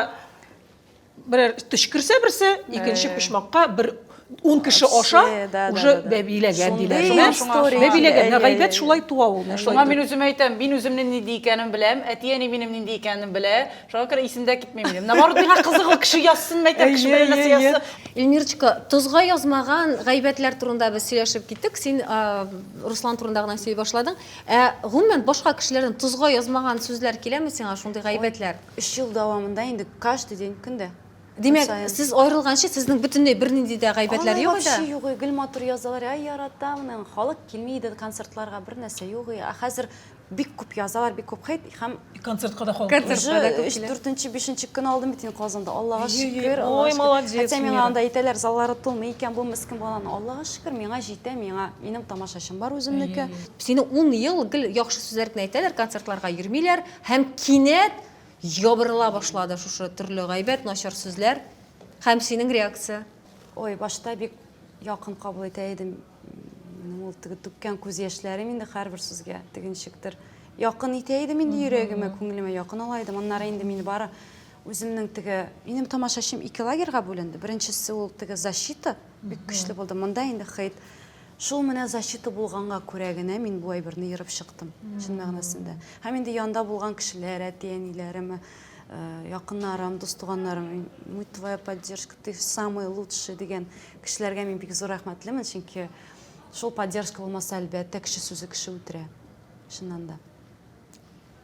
Берәр төшкерсә берсе, икенче почмакка бер ун кеше аша уже бәбиләгән диләр. Бәбиләгән. Гайбәт шулай туа ул. Шуңа мин үзем әйтәм, мин үземне нинди икәнен беләм, әти-әни минем нинди икәнен белә. Шуңа күрә исемдә китми минем. Наоборот, миңа кызык ул кеше язсын, мәйтәм, кеше белән нәрсә язсын. Эльмирочка, тозга язмаган гайбәтләр турында без сөйләшеп киттек. Син Руслан турында гына сөйли башладың. Ә гомумән башка кешеләрдән тозга язмаган сүзләр киләме сиңа шундый гайбәтләр? Өч ел дәвамында инде каждый день, көн дә. Димәк, сез аерылганчы, сезнең бөтенләй бернинди дә гайбәтләр юк иде? Вообще юк, гел матур язалар, әй яратам, аның халык килми иде концертларга, бер нәрсә юк, ә хәзер бик күп язалар, бик күп хейт һәм концертка да халык концертка өч, дүртенче, бишенче көн алдым бит инде Казанда, Аллага шөкер, ой, молодец, хотя миңа анда әйтәләр, заллары тулмый икән, бу мескен баланы, Аллага шөкер, миңа җитә, миңа минем тамашачым бар үземнеке. Сине ун ел гел яхшы сүзләр генә әйтәләр, концертларга йөрмиләр. Һәм кинәт ябырыла башлады шушы төрле гайбәт, начар сүзләр. Һәм синең реакция? Ой, башта бик якын кабул итә идем. Минем ул теге түккән күз яшьләрем инде һәрбер сүзгә теге ничектер якын итә идем инде йөрәгемә, күңелемә якын ала идем. Аннары инде мине бары үземнең теге минем тамашачым ике лагерьга бүленде. Беренчесе ул теге защита бик көчле булды. Монда инде хейт Шул менә защита булганга күрә генә мин бу әйберне ерып чыктым, чын мәгънәсендә. Һәм инде янда булган кешеләр, әти-әниләрем, якыннарым, дус-туганнарым, мы твоя поддержка, ты самый лучший дигән кешеләргә мин бик зур рәхмәтлемен, чөнки шул поддержка булмаса, әлбәттә, кеше сүзе кеше үтерә, чыннан да.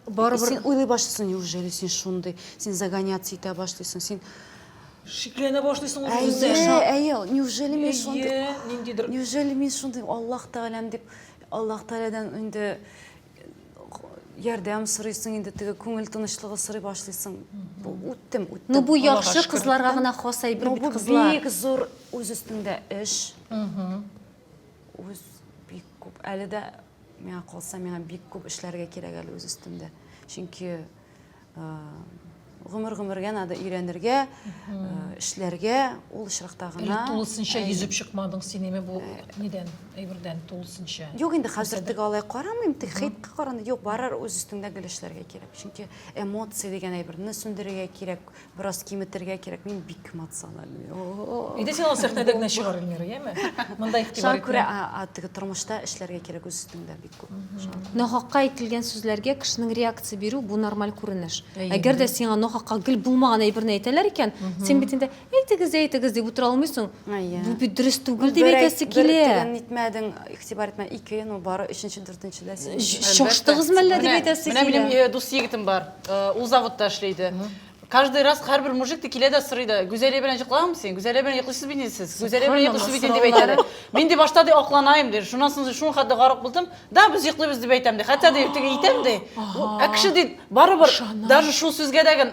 барыбер син уйлый башлыйсың неужели син шундый син загоняться итә башлыйсың син шикләнә башлыйсың үзеңне әйе әйе неужели мин шундый ниндидер неужели мин шундый аллах тәгаләм дип аллах тәгаләдән инде ярдәм сорыйсың инде теге күңел тынычлыгы сорый башлыйсың үттем үттем ну бу яхшы кызларга гына хас әйбер бит кызлар бик зур үз өстеңдә эш үз бик күп әле дә Миңа калса, миңа бик күп эшләргә кирәк әле үз өстемдә. Чөнки гомер-гомергә надо өйрәнергә, эшләргә, ул очракта гына. Тулысынча йөзеп чыкмадың син инде бу нидән, әйбердән тулысынча. Юк, инде хәзер тик алай карамыйм, тик хитка караны. Юк, барыр үз өстеңдә гел эшләргә кирәк. Чөнки эмоция дигән әйберне сүндерергә кирәк, Бераз киметергә кирәк, мин бик эмоциональный. Иде син ул сәхнәдә генә чыгар Эльмира, яме? Монда игътибар Шуңа күрә теге тормышта эшләргә кирәк үз өстеңдә бик күп. Нахакка әйтелгән сүзләргә кешенең реакция бирү бу нормаль күренеш. Әгәр дә сиңа нахакка гел булмаган әйберне әйтәләр икән, син бит инде әйтегез, әйтегез дип утыра алмыйсың. Бу бит дөрес түгел дип әйтәсе килә. Бер нитмәдең, игътибар итмә, ике, ну бары өченче, дүртенчедә син. Чаштыгызмы әллә дип әйтәсе килә. Менә минем дус егетем бар. Э, ул заводта эшли иде каждый раз һәрбер мужик та килә дә сорый да гүзәлия белән йоклаганмы син гүзәлия белән йоклыйсыз бит инде сез гүзәлия белән йоклыйсыз бит инде дип әйтәләр мин ди башта ди акланаем ди шуннан соң шул хәтле гарык булдым да без йоклыйбыз дип әйтәм ди хәтта ди теге әйтәм ди ә кеше ди барыбер даже шул сүзгә дә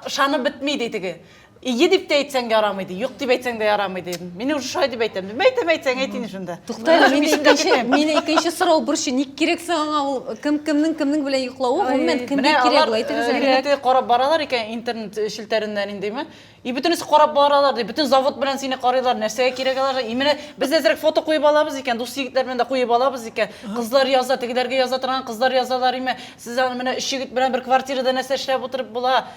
ышанып бетми ди теге Ие дип тә әйтсәң ярамый ди, юк дип әйтсәң дә ярамый ди. Мин уже шулай дип әйтәм. Мин әйтәм, әйтсәң әйт инде шунда. Тукта, мине икенче, мине икенче сорау борчый. Ник кирәк соң аңа ул кем кемнең кемнең белән йоклавы, гомумән кемгә кирәк ул әйтегез әле. Интернетта карап баралар икән, интернет челтәреннән индеме? И бөтенесе карап баралар ди, бөтен завод белән сине карыйлар, нәрсәгә кирәк аларга? И менә без әзрәк фото куеп алабыз икән, дус егетләр белән дә куеп алабыз икән. Кызлар яза, тегеләргә яза торган кызлар язалар име? Сез аны менә өч егет белән бер квартирада нәрсә эшләп утырып була?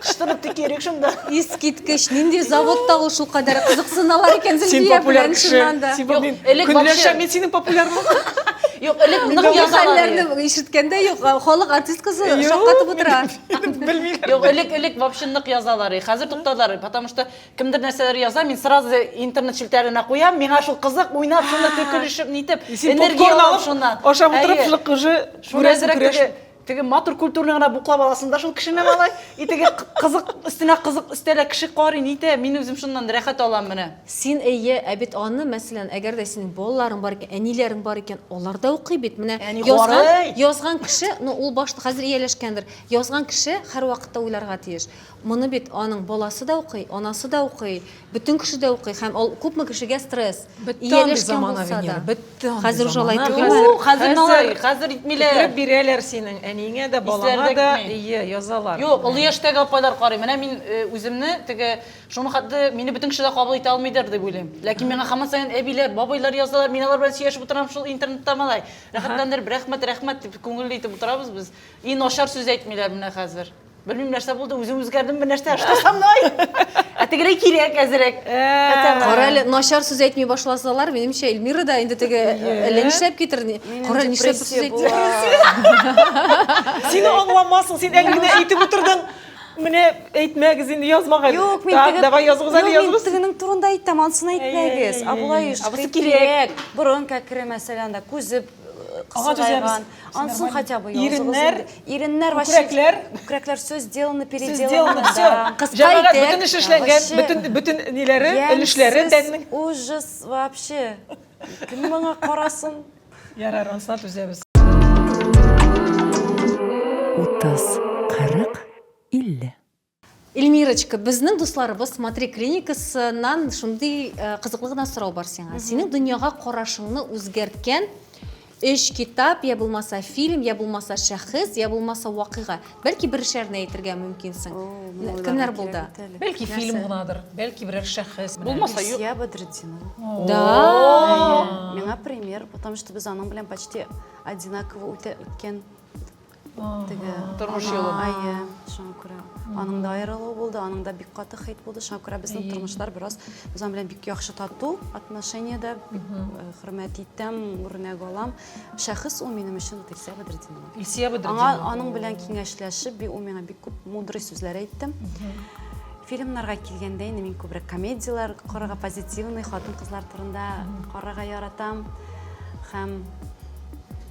Кышта бетте керик шунда. Искиткеч, нинди заводта ул шул кадәр кызыксыналар икән Зөлфия белән чыннан да. Син популяр кеше. Элек вообще мин синең популярлыгың. Юк, элек нык язалар. Ишеткәндә юк, халык артисткасы шаккатып утыра. Белмиләр. Юк, элек элек вообще нык язалар. Хәзер туктадылар, потому что кемдер нәрсәләр яза, мин сразу интернет челтәренә куям, миңа шул кызык, уйнап, шуны төкелешеп, нитеп, энергия алып шуннан. Ашап утырып, шулык уже күрәсең, күрәсең. Теге матур культурный гына буклап аласың да шул кешене малай. И теге кызык өстенә кызык өстәлә кеше карый, нитә, мин үзем шуннан рәхәт алам менә. Син әйе, ә бит аны, мәсәлән, әгәр дә синең балаларың бар икән, әниләрең бар икән, алар да укый бит. Менә Әни язган, карый. язган кеше, ну ул башта хәзер ияләшкәндер, язган кеше һәрвакытта уйларга тиеш. Моны бит аның баласы да укый, анасы да укый, бөтен кеше дә укый һәм ул күпме кешегә стресс. Бетте андый замана, Венера, бетте андый замана. Хәзер уже алай түгел. Хәзер алай, хәзер итмиләр. Китереп бирәләр синең әниеңә дә, балаңа да, ие, язалар. Юк, олы яшьтәге апайлар карый. Менә мин үземне теге, шуны хәтле мине бөтен кеше дә кабул итә алмыйдыр дип уйлыйм. Ләкин миңа һаман саен әбиләр, бабайлар язалар, мин алар белән сөйләшеп утырам шул интернетта малай. Рәхәтләндереп, рәхмәт, рәхмәт дип, күңелле итеп утырабыз без. И начар сүз әйтмиләр менә хәзер. Белмим нәрсә булды, үзем үзгәрдем, бер нәрсә что со мной? Ә тегерәй кирәк әзерәк. Кара әле, начар сүз әйтми башласалар, минемчә Эльмира да инде теге әллә нишләп китер. Кара әле нишләп сүз әйтми. Син аңламасың, син әле генә әйтеп утырдың. Менә әйтмәгез инде язмагыз. Юк, мин теге. Давай языгыз әле языгыз. Мин тегенең турында әйтәм, ансын әйтмәгез. А болай еш. Абысы кирәк. Борын кәкре мәсәлән дә, күзе кысылган. Ансын хотя бы иреннәр, иреннәр вообще күкрәкләр, күкрәкләр все сделано, переделано. Все, җәмәгать бөтен эш эшләнгән, бөтен бөтен ниләре, өлешләре тәннең. Ужас вообще. Кем моңа карасын? Ярар, ансына түзәбез. 30, 40, 50. Эльмирочка, безнең дусларыбыз Смотри клиникасыннан шундый э, кызыклы гына сорау бар сиңа. Синең дөньяга карашыңны үзгәрткән өч китап, я булмаса фильм, я булмаса шәхес, я булмаса вакыйга. Бәлки бер шәрне әйтергә мөмкинсең. Кемнәр булды? Бәлки фильм гынадыр, бәлки берәр шәхес. Булмаса юк. Ильсия Бадретдинова. Да. Миңа пример, потому что без аның белән почти одинаково үтә- үткән Теге тормыш юлы. Әйе, шуңа күрә. Аның да аерылуы булды, аның да бик каты хит булды. Шуңа күрә безнең тормышлар бераз үзем белән бик яхшы тату отношениедә, бик э, хөрмәт итәм, үрнәк алам. Шәхес ул минем өчен Илсия Бәдретдинова. Илсия Бәдретдинова. Аңа аның белән киңәшләшеп, бик ул миңа бик күп мудрый сүзләр әйтте. Фильмнарга килгәндә инде мин күбрәк комедияләр карарга, позитивный хатын-кызлар турында карарга яратам. Һәм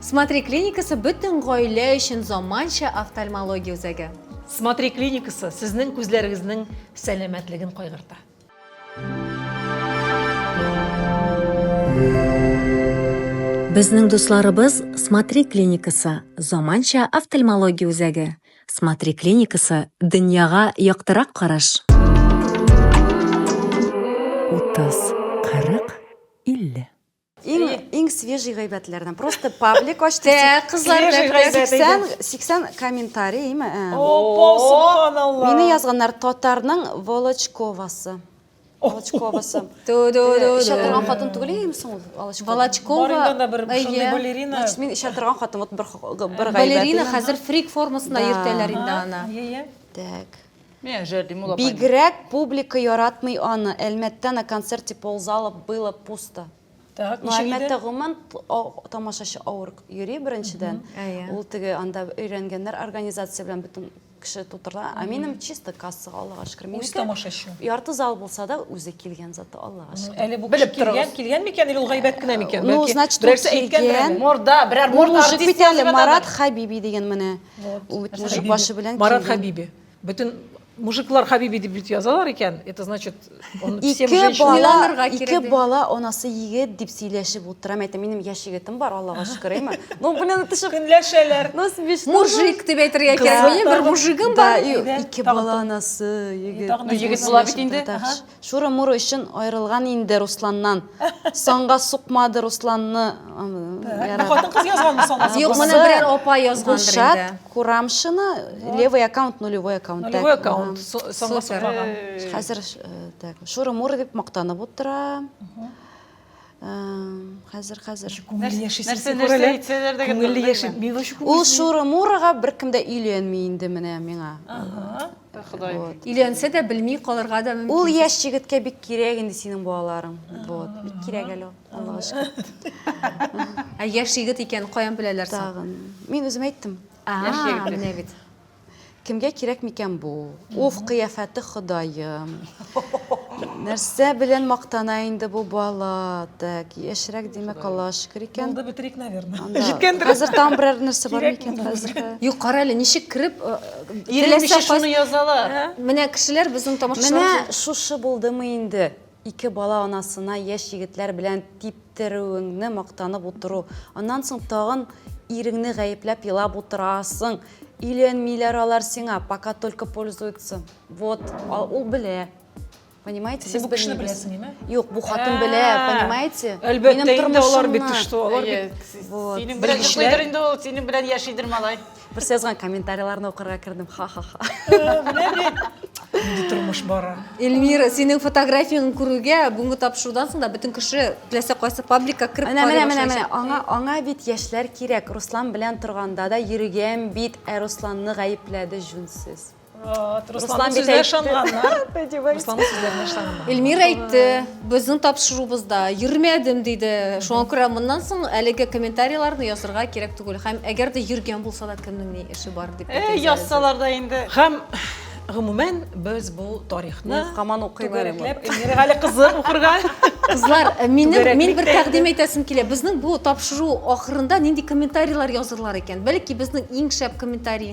Смотри клиникасы бөтен гаилә өчен заманча офтальмология үзәге. Смотри клиникасы сезнең күзләрегезнең сәламәтлеген кайгырта. Безнең дусларыбыз Смотри клиникасы заманча офтальмология үзәге. Смотри клиникасы дөньяга яктырак караш. 30, 40, 50. Иң, иң свежий гайбәтләрдән. Просто паблик ачты. Тә, кызлар белән гайбәт. 80, 80 комментарий, име? Ә. Опа, субханалла. Мине язганнар татарның Волочковасы. Волочковасы. Чатырган хатын түгел име соң ул? Волочкова. Волочкова. Барында бер шундый балерина. Значит, мин чатырган хатын вот бер бер гайбәт. Балерина хәзер фрик формасына йөртәләр инде аны. Так. Менә Җәрдим ул апайның. Бигрәк публика яратмый аны, Әлмәттә на концерте ползала, было пусто. Так, ничек иде? Әлмәттә гомумән тамашачы авыр йөри беренчедән. Ул теге анда өйрәнгәннәр организация белән бөтен кеше тутырыла. Ә минем чисто кассага, Аллага шөкер. Үз тамашачы. Ярты зал булса да үзе килгән зато, Аллага шөкер. Әле бу кеше килгән, килгән микән или ул гайбәт кенә микән? Ну, значит, ул килгән. Морда, берәр морда артист язып ятадыр. Марат Хәбиби дигән менә. Вот. Мужик башы белән Марат Хабиби. Бөтен мужиклар Хабиби дип бит язалар икән. Это значит, он всем женщинам ике бала анасы егет дип сөйләшеп утырам. Әйтә, минем яшь егетем бар, Аллага шөкер, әйме. Ну, белән тышып көнләшәләр. Ну, смешно. Мужик дип әйтергә кирәк. Минем бер мужигым бар. Ике бала анасы, егет. Егет була бит инде. Шуры-муры өчен аерылган инде Русланнан. Санга сукмады Русланны. Бу хатын-кыз язганмы санасы? Юк, моны берәр апа язгандыр инде. Гушат Курамшина левый аккаунт, нулевой аккаунт. Нулевой аккаунт. Санга сукмаган. Хәзер так, шуры-муры дип мактанып утыра. хәзер хәзер ул шуры мурыга беркем дә өйләнми инде менә миңа ходай өйләнсә дә белми калырга да мөмкин ул яшь егеткә бик кирәк инде синең балаларың вот бик кирәк әле аллага шөкер ә яшь егет икәнен каян беләләр соң тагын мин үзем әйттем менә бит Кемгә кирәк микән бу? Уф, кыяфәте Ходаем. Нәрсә белән мактана инде бу бала? Так, яшьрәк димәк Аллага шөкер икән. Булды бетерик, наверное. Анда Җиткәндер. Хәзер тагын берәр нәрсә бар Кирәкме микән хәзер? Юк, кара әле, ничек кереп, э, Иренмичә теләсә шуны кайсы- язалар. Менә кешеләр безнең Менә тамашачылар шушы булдымы инде? Ике бала анасына яшь егетләр белән типтерүеңне мактанып утыру, аннан соң тагын иреңне гаепләп елап утырасың, өйләнмиләр алар сиңа, пока только пользуются, вот, ул белә, понимаете, без белмибез. Юк, бу хатын белә, понимаете, минем тормышымны. Әлбәттә инде, алар бит, ты что, алар бит. Синең белән йоклыйдыр инде ул, синең белән яшидер малай. Берсе язган комментарийларны укырга кердем. Ха-ха-ха. Инде тормыш бара. Эльмира, синең фотографияң күрүгә бүгенге тапшырудан соң да бөтен кеше теләсә кайсы пабликка кереп Менә, менә, менә, менә. Аңа, аңа бит яшьләр кирәк. Руслан белән торганда да йөргән бит, ә Русланны гаепләде җүнсез. Руслан бит әйтте. Руслан сүзләренә ышанганнар. Эльмир әйтте, безнең тапшырубызда йөрмәдем диде. Шуңа күрә моннан соң әлеге комментарийларны язырга кирәк түгел. Һәм әгәр дә йөргән булса да кемнең ни эше бар дип. Э, язсалар да инде. Һәм гомумән без бу тарихны каман укыйбыз. Эльмир әле кызы укырга. Кызлар, э, минем мин бер тәкъдим әйтәсем килә. Безнең бу тапшыру ахырында нинди комментарийлар язырлар икән? Бәлки безнең иң шәп комментарий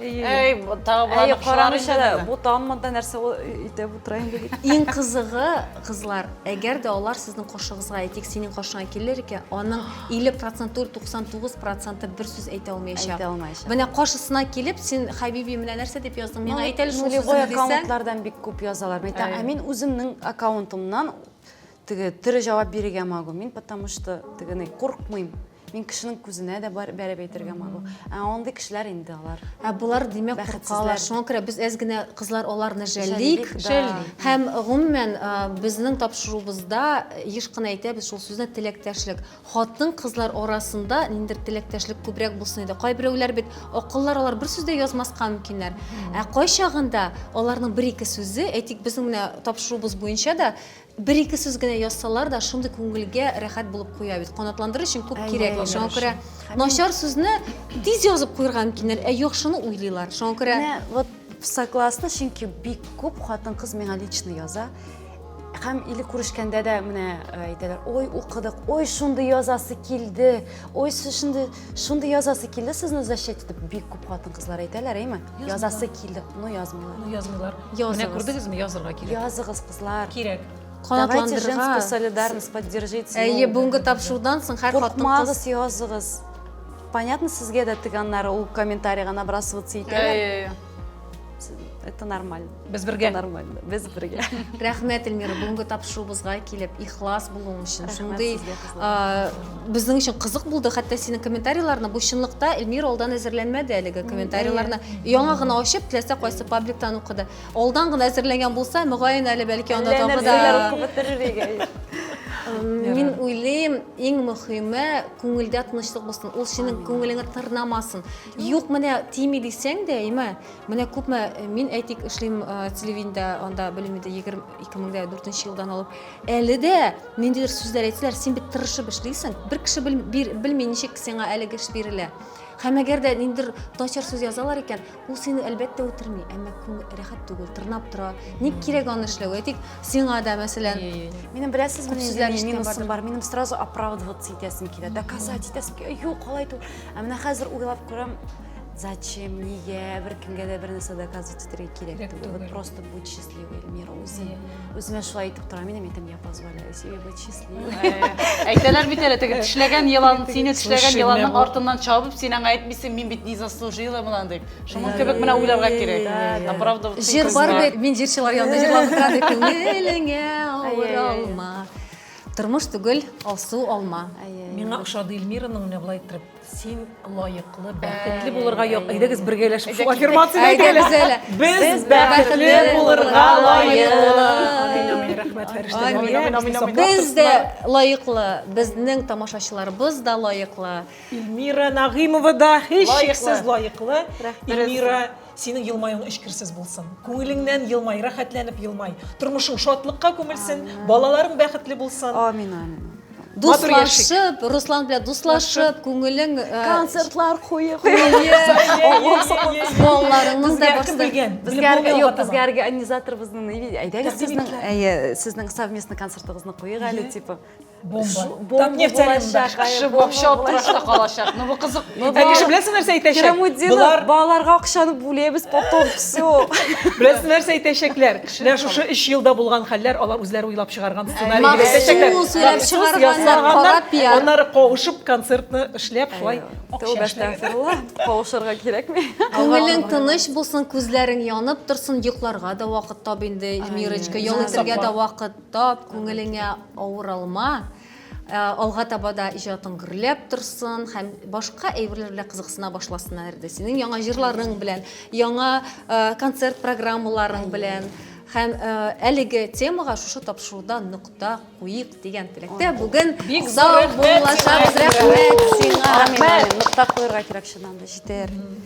Әй, тагы боларны кушалар инде безне. Бу таммада нәрсә итеп утыра инде дип. Иң кызыгы, кызлар, әгәр дә алар сезнең каршыгызга, әйтик, синең каршыңа килер икән, аның 50 процент түгел, 99 проценты бер сүз әйтә алмаячак. Әйтә алмаячак. Менә каршысына килеп, син, Хәбиби, менә нәрсә дип яздың, миңа әйт әле шул сүзне дисә. аккаунтлардан бик күп язалар. Мин әйтәм, ә мин үземнең аккаунтымнан теге тере җавап бирергә могу. Мин потому что тегене курыкмыйм. Мин кешенең күзенә дә бәреп әйтергә могу. Ә андый кешеләр инде алар. Ә болар димәк куркалар. Шуңа күрә без әз генә кызлар аларны жәллик. Һәм гомумән безнең тапшыруыбызда еш кына әйтәбез шул сүзне теләктәшлек. Хатын кызлар арасында ниндер теләктәшлек күбрәк булсын иде. Кайберәүләр бит акыллар алар бер сүз дә язмаска мөмкиннәр. Ә кайчагында аларның бер-ике сүзе, әйтик, безнең менә тапшыруыбыз буенча да Бер-ике сүз генә язсалар да, шундый күңелгә рәхәт булып куя бит. Канатландырыр өчен күп кирәкми. Шуңа күрә начар сүзне тиз язып куерга мөмкиннәр, ә яхшыны уйлыйлар. Шуңа күрә Менә вот согласна, чөнки бик күп хатын-кыз миңа лично яза. Һәм или күрешкәндә дә менә э, әйтәләр, ой, укыдык, ой, шундый язасы килде, ой, шундый, шундый язасы килде сезне защитить итеп. Бик күп хатын-кызлар әйтәләр, әйме? Язасы килде, но язмыйлар. Ну, язмыйлар. Менә Языгыз. күрдегезме, язырга кирәк. Языгыз, Кызлар. Кирәк. Давайте женскую солидарность поддержить. Әйе, бүгенге тапшырудан соң һәр хатын-кыз. Куркмагыз, языгыз. Понятно, сезгә дә тиганнар ул комментарийга набрасываться итәләр. Это нормально. Без бергә. Нормально. Без бергә. Рәхмәт, Эльмира, бүгенге тапшыруыбызга килеп, ихлас булуың өчен. Шундый безнең өчен кызык булды, хәтта синең комментарийларны бу чынлыкта Эльмира алдан әзерләнмәде әлеге комментарийларны. Яңа гына ачып, теләсә кайсы пабликтан укыды. Алдан гына әзерләнгән булса, мөгаен әле бәлки аны тагы да. Мин уйлыйм, иң мөхиме күңелдә тынычлык булсын. Ул синең күңелеңә тырнамасын. Юк, менә тими дисәң дә, әйме, менә күпме мин әйтик эшлим телевидениедә, анда белмим инде 2004 елдан алып. Әле дә ниндидер сүзләр әйтсәләр, син бит тырышып эшлисең. Бер кеше белми ничек сиңа әлеге эш бирелә. Һәм әгәр дә ниндидер начар сүз язалар икән, Ул сине әлбәттә үтерми, әмма күңел рәхәт түгел, тырнап тора. Ник кирәк аны эшләү? Әйтик, сиңа да, мәсәлән, Минем беләсезме, Күп сүзләр нинди ишеткән минусым бар. Минем сразу оправдываться итәсем килә, доказать итәсем килә. Юк, алай түгел. Ә менә хәзер уйлап күрәм, зачем, нигә бер кемгә дә бер нәрсә доказывать итәргә кирәк Кирәк түгел. Вот түгел. просто будь счастливый, Эльмира, үзең. Үземә шулай әйтеп торам, минем әйтәм, я позволяю себе быть счастливой. Әйтәләр бит әле, теге тешләгән елан, сине тешләгән еланның артыннан чабып, син аңа әйтмисең, мин бит не заслужила монан дип. Шуның кебек менә уйларга кирәк. А правда, җыр бар бит, мин җырчылар янында җырлаган кадәр күңелеңә авыр алма. Тормыш түгел, алсу алма. Миңа ошады Эльмираның менә былай иттереп Син лаеклы, бәхетле булырга як. Әйдәгез бергәләшеп шул аффирмацияне әйтәле. Без бәхетле булырга лаек. Без дә лаеклы, безнең тамашачыларыбыз да лаеклы. Ильмира Нагыймова да һичшиксез лаеклы. Ильмира Синең елмаюың эчкерсез булсын. Күңелеңнән елмай, рәхәтләнеп елмай. Тормышың шатлыкка күмелсен, балаларың бәхетле булсын. Амин, амин. Дуслашып, Руслан белән дуслашып, күңелең э, концертлар куе, балаларыңыз да барсы белгән. Безгә юк, безгә организаторыбызның әйдәгез сезнең әйе, сезнең совместный концертыгызны куйыйк әле, типа. бомба так нефтяныда кеше вообще аптырашта калачак ну бу кызык ә кеше беләсең нәрсә әйтәчәк болар балаларга акчаны бүләбез потом все беләсең нәрсә әйтәчәкләр менә шушы өч елда булган хәлләр алар үзләре уйлап чыгарган сценарий дип әйтәчәкләр сөйләп чыгарганнар аннары кавышып концертны эшләп шулай кавышырга кирәкми күңелең тыныч булсын күзләрең янып торсын йокларга да вакыт таб инде эльмирочка ял итәргә дә вакыт Тап, күңелеңә авыр алма, э, алга таба да иҗатың гөрләп торсын һәм башка әйберләр белән кызыксына башласыннар иде. Синең яңа җырларың белән, яңа э, концерт программаларың белән һәм э, әлеге темага шушы тапшыруда нокта куйык дигән теләктә бүген Бик зур сау рәхмәт булачак. сиңа, Рәхмәт сиңа. Рәхмәт. Нокта куярга кирәк чыннан да, җитәр.